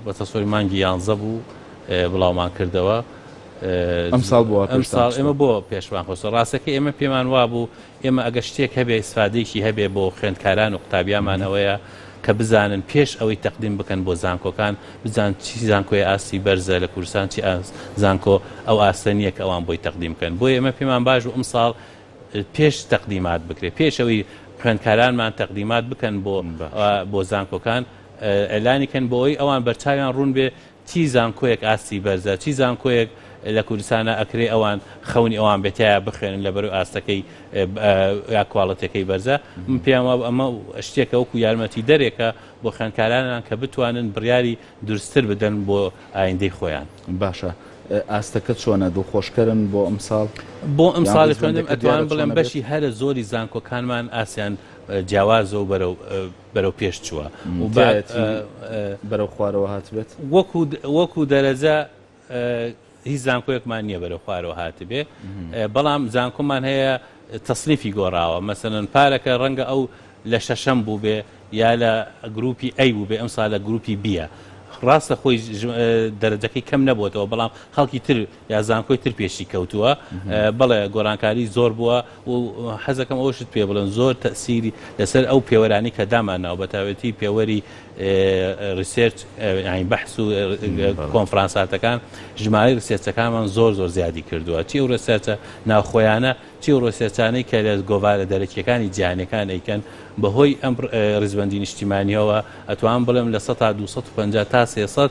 بە تەسۆی مانگی یانزە بوو بڵاومان کردەوە ئەم ساڵ بۆ ئەم ساڵ ئێمە بۆ پێشمان خۆسە ڕاستەکە ئێمە پێمان وابوو ئێمە ئەگە شتێک هەبێ ئیسفادێکی هەبێ بۆ خوێندکاران و قوتابیامان ئەوەیە کە بزانن پێش ئەوەی تەقدیم بکەن بۆ زانکۆکان بزان چی زانکۆی ئاستی بەرزە لە کوردستان چی زانکۆ ئەو ئاستە نییە کە ئەوان بۆی تەقدیم بکەن بۆی ئێمە پێمان باش و ئەم ساڵ پێش تەقدیمات بکرێت پێش ئەوی خوێندکارانمان تەقدیمات بکەن بۆ بۆ زانکۆکان ئەلانی کەن بۆ ئەوی ئەوان بەرچاویان ڕوون بێ چی زانکۆیەک ئاستی بەرزە چی زانکۆیەک لە کوردستانە ئەکرێ ئەوان خەونی ئەوان بێتەیە بخوێنن لە بەرو ئاستەکەی یا کواڵەتەکەی بەرزە من پێیان وابوو ئەمە شتێکە وەکو یارمەتی دەرێکە بۆ خوێندکارانان کە بتوانن بڕیاری دورستر بدەن بۆ ئایندەی خۆیان. باشە ئاستەکە چۆنە دڵخۆشکەرن بۆ ئەمساڵ؟ بۆ ئەمساڵی خوێندن ئەتوانم بڵێم بەشی هەرە زۆری زانکۆکانمان ئاستیان جیاوازە و بەرەو بەرەو پێش چووە و بەرەو خوارەوە هاتبێت وەکو وەکو دەرەجە هیچ زانکۆیەکمان نییە بەرەو خوارەوە هاتبێ بەڵام زانکۆمان هەیە تەصنیفی گۆڕاوە مەسەن پارەکە ڕەنگە ئەو لە شەشەم بوو بێ یا لە گروپی ئەی بوو بێ ئەم سا لە گروپی بیە ڕاستە خۆی دەرەجەکەی کەم نەبووەوە بەڵام خەڵکی تر یا زانکۆی تر پێشی کەوتووە بەڵێ گۆرانکاری زۆر بووە و حەزەکەم ئەوەشت پێ بڵێم زۆر تەئسیری لەسەر ئەو پێوەرانەی کە دامانناوە بە تاوێتی پێوەری ڕیسێرچ یانی بەحس و کۆنفرانساتەکان ژمارەی ڕسێرچەکانمان زۆر زۆر زیادی کردووە چی و ڕسێرچە ناوخۆیانە چی و ڕسێرچانەی کە لە گۆوارە دەرەکیەکانی جیهانەکان ئەیکەن بەهۆی ئەم ڕیزبەندی نیشتیمانیەوە ئەتوان بڵێم لە سەتا 250 تا 300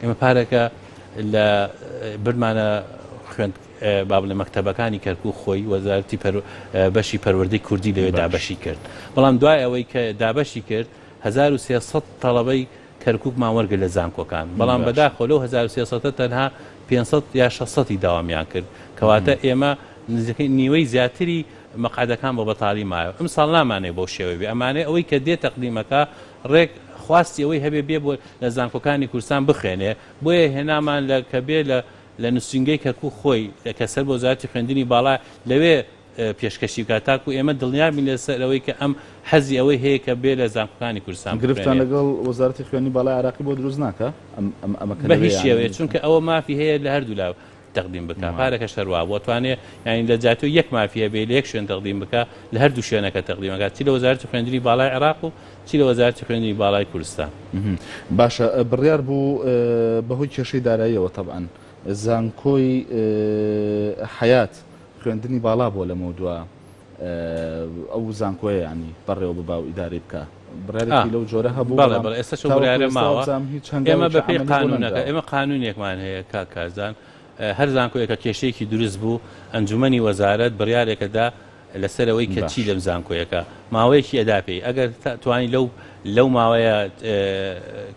ئێمە پارەکە لە برمانە خوێند بابلە مەکتتەبەکانی کەرکو خۆی وەزارتی بەشی پەروەردەی کوردی لەوێ دابەشی کرد بەڵام دوای ئەوەی کە دابەشی کرد 1300 تەڵەبەی کەرکک ماوەرگە لە زانکۆکان بەڵام بەداخۆ لەو 1300 تەنها 500 یا 600 داوامیان کرد کەواتە ئێمە نزیکەی نیوەی زیاتری مەقعدەکان بۆ بەتاڵی مایەوە ئەم ساڵ نامانێ بۆ شێوەبی ئەمانێ ئەوەی کە دێ تەقدیمەکە ڕێک خواستی ئەوەی هەبێ بێ بۆ لە زانکۆکانی کوردستان بخوێنێ، بۆیە هێنامان لە کە بێ لە لە نوسینگەی کەرکوک خۆی کە سەر بە وەزارەتی خوێندنی باڵا لەوێ پێشکەشی بکات تاکو ئێمە دڵنیابین لە سەر ئەوەی کە ئەم حەزی ئەوەی هەیە کە بێ لە زانکۆکانی کوردستان بخوێنێ. گرفتتان لەگەڵ وەزارەتی خوێندنی باڵای عێراقی بۆ دروست ناکا ئەم ئەمە کە لەوێ یانە؟ بە هیچ شێوەیەک چونکە ئەوە مافی هەیە لە هەردوو لا تەقدیم بکا پارەکەش هەروا بۆ توانێ یانی لە جاتۆ یەک مافی هەبێ لە یەک شوێن تەقدیم بکا لە هەر دوو شوێنەکە تەقدیمەکە چی لە وەزارەتی خوێندنی باڵای عێراق و چی لە وەزارەتی خوێندنی باڵای کوردستان باشە بڕیار بوو بەهۆی کێشەی داراییەوە تەبعەن زانکۆی حەیات خوێندنی باڵا بۆ لەمەو دووە ئەو زانکۆیە یانی بەڕێوە ببا و ئیدارەی بکا بڕیارێکی لەو جۆرە هەبوو بەڵێ بەڵێ ئێستا چۆن بڕیارە ماوە ئێمە بەپی قانونەکە ئێمە قانونێکمان هەیە کا کارزان هەر زانکۆیەکە کێشەیەکی دروست بوو ئەنجومی وەزارەت بڕیارێکەدا لەسەرەوەی کە چی لەم زانکۆیەکە ماوەیەکی ئەدا پێی ئەگەر توانی لەو لەو ماوەیە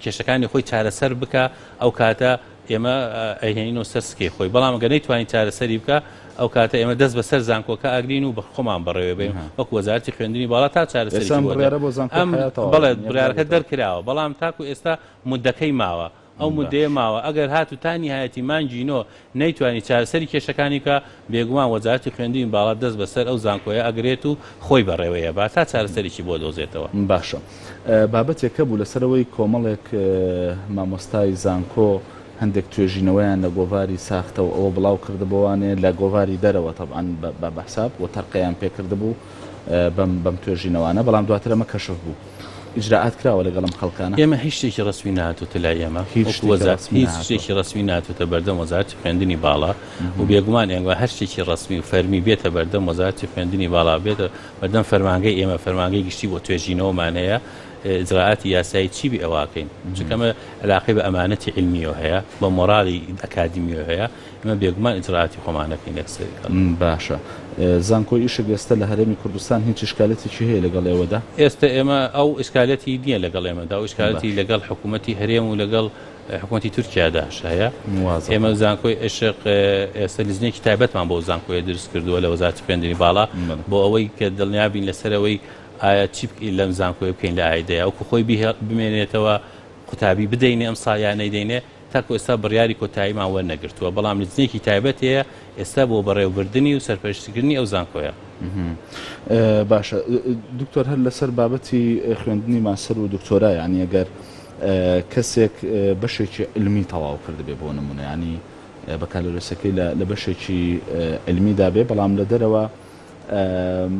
کێشەکانی خۆی چارەسەر بکە ئەو کاتە ئێمە ئەیهێنینەوە سەر سکەی خۆی، بەڵام گەر نەیتوانی چارەسەری بکا، ئەو کاتە ئێمە دەست بە سەر زانکۆکە ئەگرین و خۆمان بەڕێوەی بەین وەکو وەزارەتی خوێندنی باڵا تا چارەسەرێکی بۆ دەکەین. بەڵێ بڕیارەکە دەرکراوە، بەڵام تاکو ئێستا موددەکەی ماوە، ئەو موددەیە ماوە، ئەگەر هاتوو تا نیهایەتی مانگی نۆ نەیتوانی چارەسەری کێشەکانی بکا، بێگومان وەزارەتی خوێندنی باڵا دەست بەسەر ئەو زانکۆیە ئەگرێت و خۆی بەڕێوەی ئەبات تا چارەسەرێکی بۆ دۆزێتەوە. باشە بابەتێک هەبوو لەسەرەوەی کۆمەڵێک مامۆستای زانکۆ هەندێک توێژینەوەیان لە گۆڤاری ساختە و ئەوە بڵاو کردبۆوانێ لە گۆڤاری دەرەوە تەبعەن بە بەحساب و تەرقەیان پێ کردبوو، بەم بەم توێژینەوانە بەڵام دواتر ئەمە کەشف بوو ئیجرراعات کراوە لەگەڵم خەڵکانە ئێمە هیچ شتێکی ڕسمی ناتوتە لای ئێمە هیچ شتێکی ڕسمی ناتوتە بەردەم وەزارتی خوێندنی باڵا و بێگومان ئێنگوە هەر شتێکی ڕسمی و فەرمی بێتە بەردەم وەزارتی خوێندنی باڵا بێتە بەردەم فەرمانگەی ئێمە فەرمانگەی گشتی بۆ توێژینەوەمان هەیە ئجرراعاتی یاسایی چی بێ ئەواکەین چکەمە علاقی بە ئەمانەتی علمیەوە هەیە بە مۆرالی ئەکادمیۆ هەیە ئێمە بێگومان ئیجرائاتی خۆمان دەکەین یەکسەری کەڵک. باشە زانکۆی ئیشک ئێستە لە هەرێمی کوردستان هیچ ئیشکالەتێکی هەیە لەگەڵ ئێوەدا؟ ئێستە ئێمە ئەو ئیشکالەتی نییە لەگەڵ ئێمەدا، ئەو ئیشکالەتی لەگەڵ حکوومەتی هەرێم و لەگەڵ حکوومەتی تورکیاداش هەیە. ئێمە زانکۆی ئیشق ئێستە لیژنەیەکی تایبەتمان بۆ ئەو زانکۆیە دروست کردووە لە وەزارەتی خوێندنی باڵا بۆ ئەوەی کە دڵنیا بین لەسەر ئەوەی ئایا چی لەم زانکۆیە بکەین لە ئایدەیە وەکوو خۆی بمێنێتەوە قوتابی بدەینێ ئەمساڵ یان نەیدەینێ. تاکو ئێستا بڕیاری کۆتاییمان وەرنەگرتووە، بەڵام لجنەیەکی تایبەت هەیە ئێستا بۆ بەڕێوەبردنی و سەرپەرشتیکردنی ئەو زانکۆیە. باشە دکتۆر هەر لەسەر بابەتی خوێندنی ماستەر و دکتۆرا یانی ئەگەر کەسێک بەشێکی علمی تەواو کردبێ بۆ نمونە یانی بەکالۆرێسەکەی لە بەشێکی علمیدا بێ بەڵام لە دەرەوە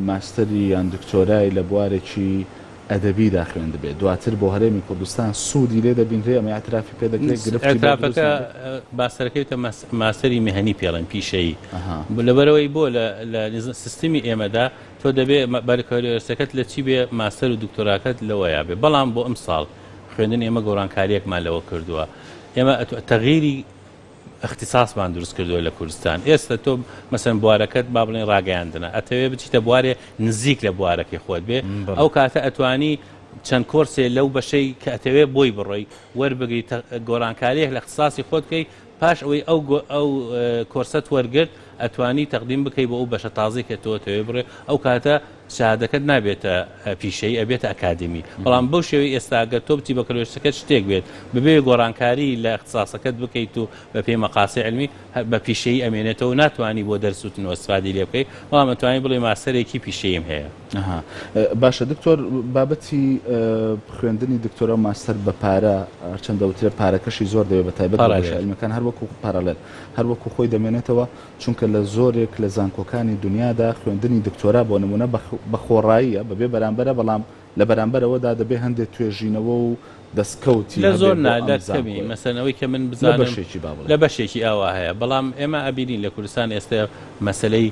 ماستەری یان دکتۆرای لە بوارێکی ئەدەبیدا خوێندبێت، دواتر بۆ هەرێمی کوردستان سوودی لێ دەبینرێ، ئەمە ئیعترافی پێ دەکرێ، گرفتی بۆ دروست نابێ؟ ئیعترافەکە ماستەرەکەی بکە ماستەری مێهنی پێ ڵێن پیشەیی، ئەها. لەبەرئەوەی بۆ لە لە سیستمی ئێمەدا تۆ دەبێ بەرکەلۆرسەکەت لە چی بێ ماستەر و دکتۆراکەت لەوەیا بێ، بەڵام بۆ ئەمساڵ خوێندن ئێمە گۆڕانکارییەکمان لەوە کردووە، ئێمە تەغییری. اختصاصمان دروست کردوە لە کوردستان ئێستا تۆ مەسەن بوارەکەت با بڵێن ڕاگەیاندنە ئەتەوێ بچیتە بوارێ نزیک لە بوارەکەی خۆت بێ ئەو کاتە ئەتوانی چەند کۆرسێ لەو بەشەی کە ئەتەوێ بۆی بڕۆی وەربگری گۆڕانکاریەک لە اختصاصی خۆت کەی پاش ئەوەی ئەو ئەو کۆرسەت وەرگرت ئەتوانی تەقدیم بکەی بۆ ئەو بەشە تازەی کە تۆ ئەتەوێ بڕۆی ئەو کاتە شەهادەکەت نابێتە پیشەیی ئەبێتە ئەکادیمی بەڵام بەو شێوەی ئێستا گەر تۆ بچی بەکەلۆرسەکەت شتێک بێت بەبێ گۆڕانکاری لە ئەختساسەکەت بکەیت و بەپێی مەقاسی علمی بە پیشەیی ئەمێنێتەوە ناتوانی بۆ دەرس وتنەوە استفادەی لێ بکەی بەڵام ئەتوانی بڵێی ماستەرێکی پیشەییم هەیە. ئەها باشە دکتۆر بابەتی خوێندنی دکتۆرا و ماستەر بە پارە هەرچەند دەوترێ پارەکەشی زۆر دەوێت بە تایبەت بە بەشە علمیەکان هەروەکو پارالێل هەروەکو خۆی دەمێنێتەوە چونکە لە زۆرێک لە زانکۆکانی دونیادا خوێندنی دکتۆرا بۆ نموونە بە خۆڕاییە، بەبێ بەرامبەرە، بەڵام لە بەرامبەرەوەدا دەبێ هەندێ توێژینەوە و دەستکەوتی لە زۆر هەبێ بۆ ئەم نادر کەمی، زانکۆیە. مەسەلەن ئەوەی کە من لە بزانم بەشێکی با لە بڵێین. بەشێکی ئاوا هەیە، بەڵام ئێمە ئەبینین لە کوردستان ئێستە مەسەلەی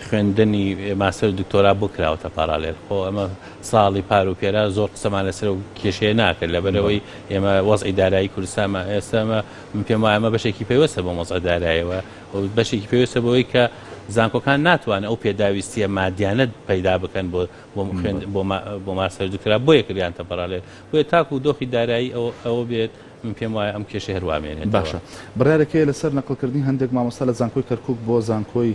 خوێندنی ماستەر و دکتۆرا بۆ کراوەتە پاڕالێل؟ خۆ ئەمە ساڵی پار و پێرا زۆر قسەمان لەسەر ئەو کێشەیە ناکرد، بەڵێ. لەبەرئەوەی ئێمە وەزعی دارایی کوردستانمان ئێستە ئەمە من پێم وایە ئەمە بەشێکی پەیوەستە بەم وەزعە دارایەوە، بەشێکی پێویستە بەوەی کە زانکۆکان ناتوانن ئەو پێداویستیە مادیانە پەیدا بکەن بۆ بۆ ماستەر دکرا بۆیە کریان تەپەرالێت بۆیە تاکو دۆخی دارایی ئەوە بێت من پێم وایە ئەم کێشە هەروامێنێت باشە بڕارێکەیە لەسەر نەقلکردنی هەندێک مامۆستا لە زانکۆی کەرکک بۆ زانکۆی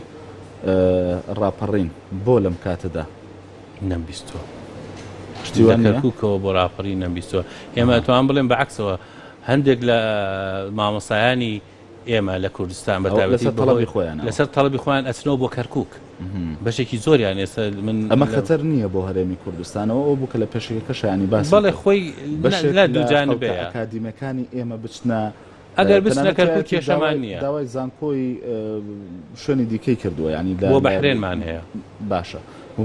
ڕاپەڕین بۆ لەم کاتەدا نەمبیستوە شتی کەرککەوە بۆ ڕاپەڕی نەمبیستوە ئێمە توان بڵێن بەعکسەوە هەندێک لە مامۆسایانی ئێمە لە کوردستان بە تایبەتی بەهۆی لەسەر تەڵەبی خۆیان ئەچنەوە بۆ کەرکوک بەشێکی زۆریان ئێستا من ئەمە خەتەر نییە بۆ هەرێمی کوردستانەوە ئەو بووکە لە پێشەکە شایانی باس بەڵێ خۆی لە دوجان بێ ئەکادیمەکانی ئێمە بچنە ئەگەر بچنە کەرکوک کێشەمان نییە داوای زانکۆی شوێنی دیکەی کردووە ینی بۆ بەحرێنمان هەیە باشە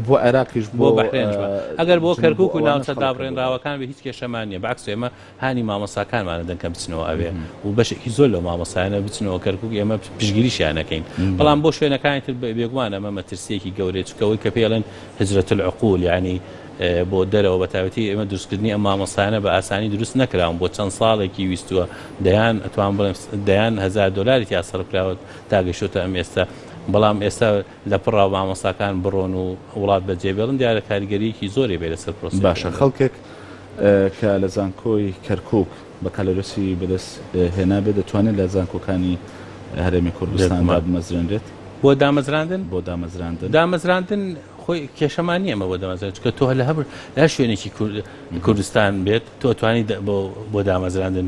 بۆ عێراقیش بۆ بەحرێنش ئەگەر بۆ کەرکوک و ناوچە دابڕێنراوەکان بە هیچ کێشەمان نیە بەعکس ئێمە هانی مامۆستاکانمان ئەدەن کە بچنەوە ئەوێ و بەشێکی زۆر لەو مامۆستایانە بچنەوە کەرکوک ئێمە پشتگیریشیان ئەکەین بەڵام بۆ شوێنەکانی تر بێگومان ئەمە مەترسیەکی گەورەیە چونکە ئەوەی کە پێڵێن هجرەت العقول یانی بۆ دەرەوە بە تایبەتی ئێمە دروستکردنی ئەم مامۆستایانە بە ئاسانی دروست نەکراون بۆ چەند ساڵێکی ویستووە دەیان ئەتوان بڵێم دەیان هەزار دۆلاری تیا سەرف کراوە تا گەشتوتە ئەم ئێستا بەڵام ئێستا لە پڕا مامۆستاکان بڕۆن و وڵات بە جێ بێڵن دیارە کاریگەریەکی زۆری بێ لەسەر پرۆسەی خوێندن. باشە خەڵکێک کە لە زانکۆی کەرکوک بەکالۆرێسی بەدەست هێنابێت دەتوانێت لە زانکۆکانی هەرێمی کوردستان دابمەزرێنرێت؟ بۆ دامەزراندن؟ بۆ دامەزراندن. دامەزراندن خۆی کێشەمان نیە ئەمە بۆ دامەزران چونکە تۆ لە هەر لە هەر شوێنێکی کوردستان بێت تۆ توانی بۆ دامەزراندن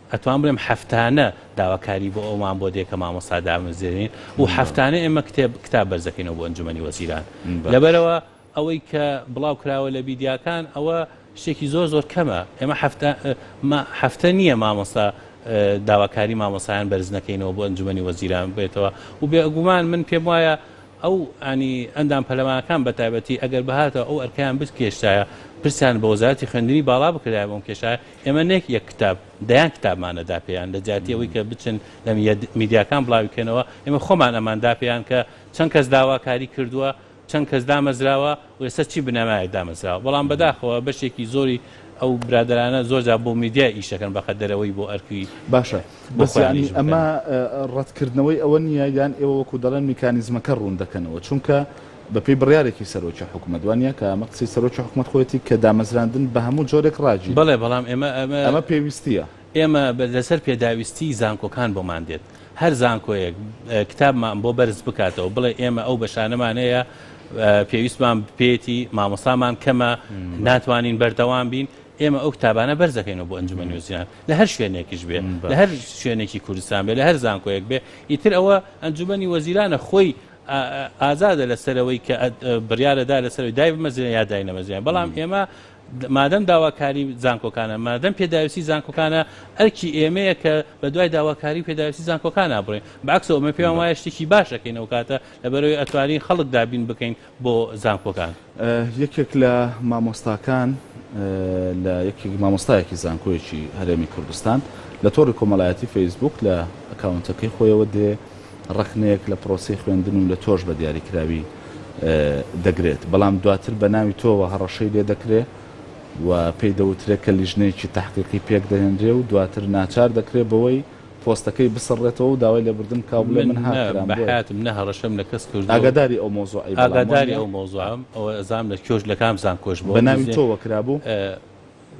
ئەتوان بڵێم هەفتانە داواکاری بۆ ئەومان بۆ دێ کە مامۆستا دامەزرێنین و هەفتانە ئێمە کتێب کتاب بەرز دەکەینەوە بۆ ئەنجومەنی وەزیران لەبەرەوە ئەوەی کە بڵاو کراوە لە بیدیاکان ئەوە شتێکی زۆر زۆر کەمە ئێمە هەفتە ما هەفتە نییە مامۆستا داواکاری مامۆسایان بەرز نەکەینەوە بۆ ئەنجومەنی وەزیران بێتەوە و بێگومان من پێم وایە ئەو ئەنی ئەندام پەلەمانەکان بە تایبەتی ئەگەر بهاتەوە ئەو ئەرکیان بتکێشتایە پرسیان بە وەزارەتی خوێندنی باڵا بکرایە بۆم کێشایە ئێمە نەک یەک کتاب، دەیان کتابمان ئەدا پێیان، لە جیاتی ئەوەی کە بچن لە میدیاکان بڵاوی بکەنەوە، ئێمە خۆمان ئەمان دا پێیان کە چەند کەس داواکاری کردووە، چەند کەس دامەزراوە و ئێستا چی بنەمایەک دامەزراوە. بەڵام بەداخەوە بەشێکی زۆری ئەو برادەرانە زۆر جار بۆ میدیا ئیش دەکەن بەقەد دەرەوەی بۆ ئەرکی باشە، بەس یانی ئەمە ڕەتکردنەوەی ئەوە نییە یان ئێوە وەکو دەڵێن میکانیزمەکە ڕوون دەکەنەوە؟ چونکە بەپێی بڕیارێکی سەرۆکی حکومەت وانیە؟ کە ئەمە قسەی سەرۆکی حکومەت خۆیەتی کە دامەزراندن بە هەموو جۆرێک ڕاگیرە. بەڵێ بەڵام ئێمە ئەمە پێویستیە. ئێمە لەسەر پێداویستی زانکۆکان بۆمان دێت. هەر زانکۆیەک کتابمان بۆ بەرز بکاتەوە بڵێ ئێمە ئەو بەشانەمان هەیە پێویستمان پێیەتی مامۆستامان کەمە ناتوانین بەردەوام بین ئێمە ئەو کتابانە بەرز دەکەینەوە بۆ ئەنجومەنی وەزیران لە هەر شوێنێکیش بێ لە هەر شوێنێکی کوردستان بێ لە هەر زانکۆیەک بێ ئیتر ئەوە ئەنجومەنی وەزیرانە خۆی ئازادە لەسەر ئەوەی کە بڕیارەدا لەسەر ئەوەی دایبمەزرێنێ یا داینەمەزرێنێ، بەڵام ئێمە مادەم داواکاری زانکۆکانە، مادەم پێداویستی زانکۆکانە، ئەرکی ئێمەیە کە بەدوای داواکاری و پێداویستی زانکۆکانا بڕۆین، بەعەکسەوە ئێمە پێمان وایە شتێکی باش ئەکەین ئەوکاتە، لەبەرئەوەی ئەتوانین خەڵک دابین بکەین بۆ زانکۆکان. یەکێک لە مامۆستاکان لە یەکێک مامۆستایەکی زانکۆیەکی هەرێمی کوردستان لە تۆڕی کۆمەڵایەتی فەیسبووک لە ئەکاونتەکەی خۆیەوە دێ ڕەخنەیەک لە پرۆسەی خوێندن و لە تۆش بە دیاریکراوی دەگرێت بەڵام دواتر بە ناوی تۆوە هەڕەشەی لێ دەکرێ و پێی دەوترێت کە لیژنەیەکی تحقیقی پێک دەهێنرێ و دواتر ناچار دەکرێت بەوەی پۆستەکەی بسڕێتەوە و داوای لێبوردن بکا و بڵێ من هاک کرام بۆیە. من نە بەحەیاتم نە هەڕەشەم لە کەس کردووە و ئاگاداری ئەو مەوزوعەی بەڵام وانیە؟ ئاگاداری ئەو مەوزوعەم ئەوە ئەزانم لە کۆژ لە کام زانکۆش بووە بەناوی تۆوە کرابوو؟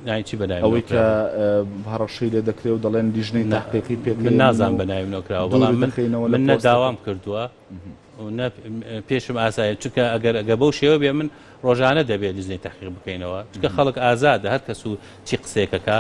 ناوی چی بەناوی منەوە ئەوەی کە کرابوو؟ هەڕەشەی لێ دەکرێ و دەڵێن لیژنەی نە تەحقیقی پێکەیە من و دووری دەخەینەوە لە پۆستەکەم. من نە داوام کردووە. پێشم ئاسایە چونکە ئەگەر ئەگە بەو شێوە بێ من ڕۆژانە دەبێت دزنی تەحقیق بکەینەوە چکە خەڵک ئازادە هەر کەس و چی قسێکەکە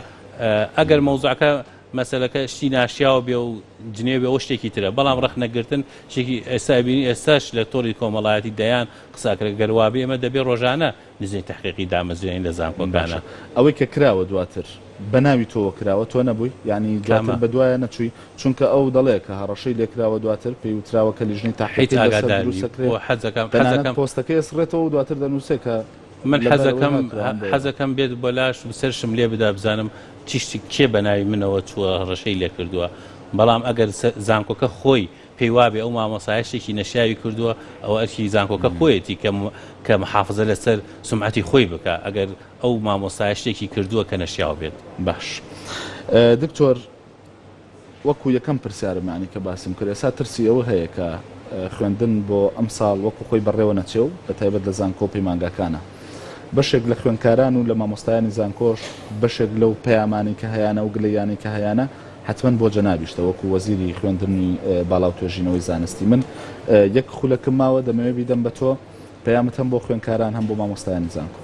ئەگەر مەوزعەکە مەسلەکە شتی ناشیاو بێ و جنێ بێ ئەو شتێکی ترە بەڵام ڕخنەگرتن شتێکی ئێستا بینی ئێستاش لە تۆری کۆمەڵایەتی دەیان قساکرێک گەروابێ ئمە دەبێ ڕۆژانە نزیک تەحقیقی دامەزرێنی لە زانکۆکانە. باشە ئەوەی کە کراوە دواتر بە ناوی تۆوە کراوە تۆ نەبووی؟ یانی کامە؟ دواتر بەدوایە نەچووی؟ چونکە ئەو دەڵێ کە هەڕەشەی لێ کراوە دواتر پێی وتراوە کە لیژنەی هیچ تەحقیقی لەسەر ئاگادار دروست نیم دەکرێ بۆ حەزەکەم تەنانەت حەزەکەم پۆستەکەی ئەسڕێتەوە و دواتر دەنووسێ کە من لە بەر ئەوەی حەزەکەم ناتوان بۆ حەزەکەم بێت بۆ لاشم سەرشم لێ بدا بزانم چی شتی کێ بە ناوی منەوە چووە هەڕەشەی لێ کردووە بەڵام ئەگەر سە زانکۆکە خۆی پێی وابێ ئەو مامۆستایە شتێکی نەشیاوی کردووە ئەوە ئەرکی زانکۆکە خۆیەتی کە محافزە لەسەر سومعەتی خۆی بکا ئەگەر ئەو مامۆستایە شتێکی کردووە کە نەشیاو بێت. باش دکتۆر وەکو یەکەم پرسیارمانی کە باسم کرد ئێستا ترسی ئەوە هەیە کە خوێندن بۆ ئەم ساڵ وەکو خۆی بەڕێوە نەچێ و بە تایبەت لە زانکۆ و پەیمانگاکانە بەشێک لە خوێندکاران و لە مامۆستایانی زانکۆش بەشێک لەو پەیامانی کە هەیانە و گلەیانی کە هەیانە حەتمەن بۆ جەنابیشتە وەکو وەزیری خوێندنی باڵاو توێژینەوەی زانستی من یەک خولەکم ماوە دەمەوێ بیدەم بە تۆ پەیامت هەم بۆ خوێنکاران هەم بۆ مامۆستایانی زانکۆ.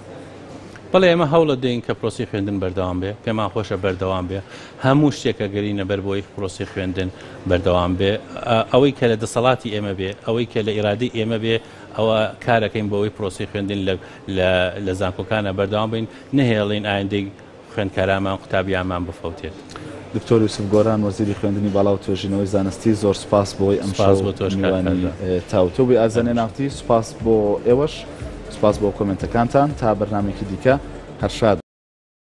بەڵێ ئێمە هەوڵە دەین کە پرۆسەی خوێندن بەردەوام بێ پێمان خۆشە بەردەوام بێ هەموو شتێک ئەگەرینە بەر بۆی پرۆسەی خوێندن بەردەوام بێ ئەوەی کە لە دەسەڵاتی ئێمە بێ ئەوەی کە لە ئیرادەی ئێمە بێ ئەوە کارەکەین بۆ ئەوەی پرۆسەی خوێندن لە لە زانکۆکانە بەردەوام بین نەهێڵین ئایندەی خوێندکارامان قوتابیانمان بفەوتێت. دکتۆر یوسف گۆران وەزیری خوێندنی باڵا و توێژینەوەی زانستی زۆر سوپاس بۆی ئەمشەو میوانی تاوتوێ ئازەنێ نافتی سوپاس بۆ ئێوەش سوپاس بۆ کۆمێنتەکانتان تا بەرنمێکی دیکە هەرشاد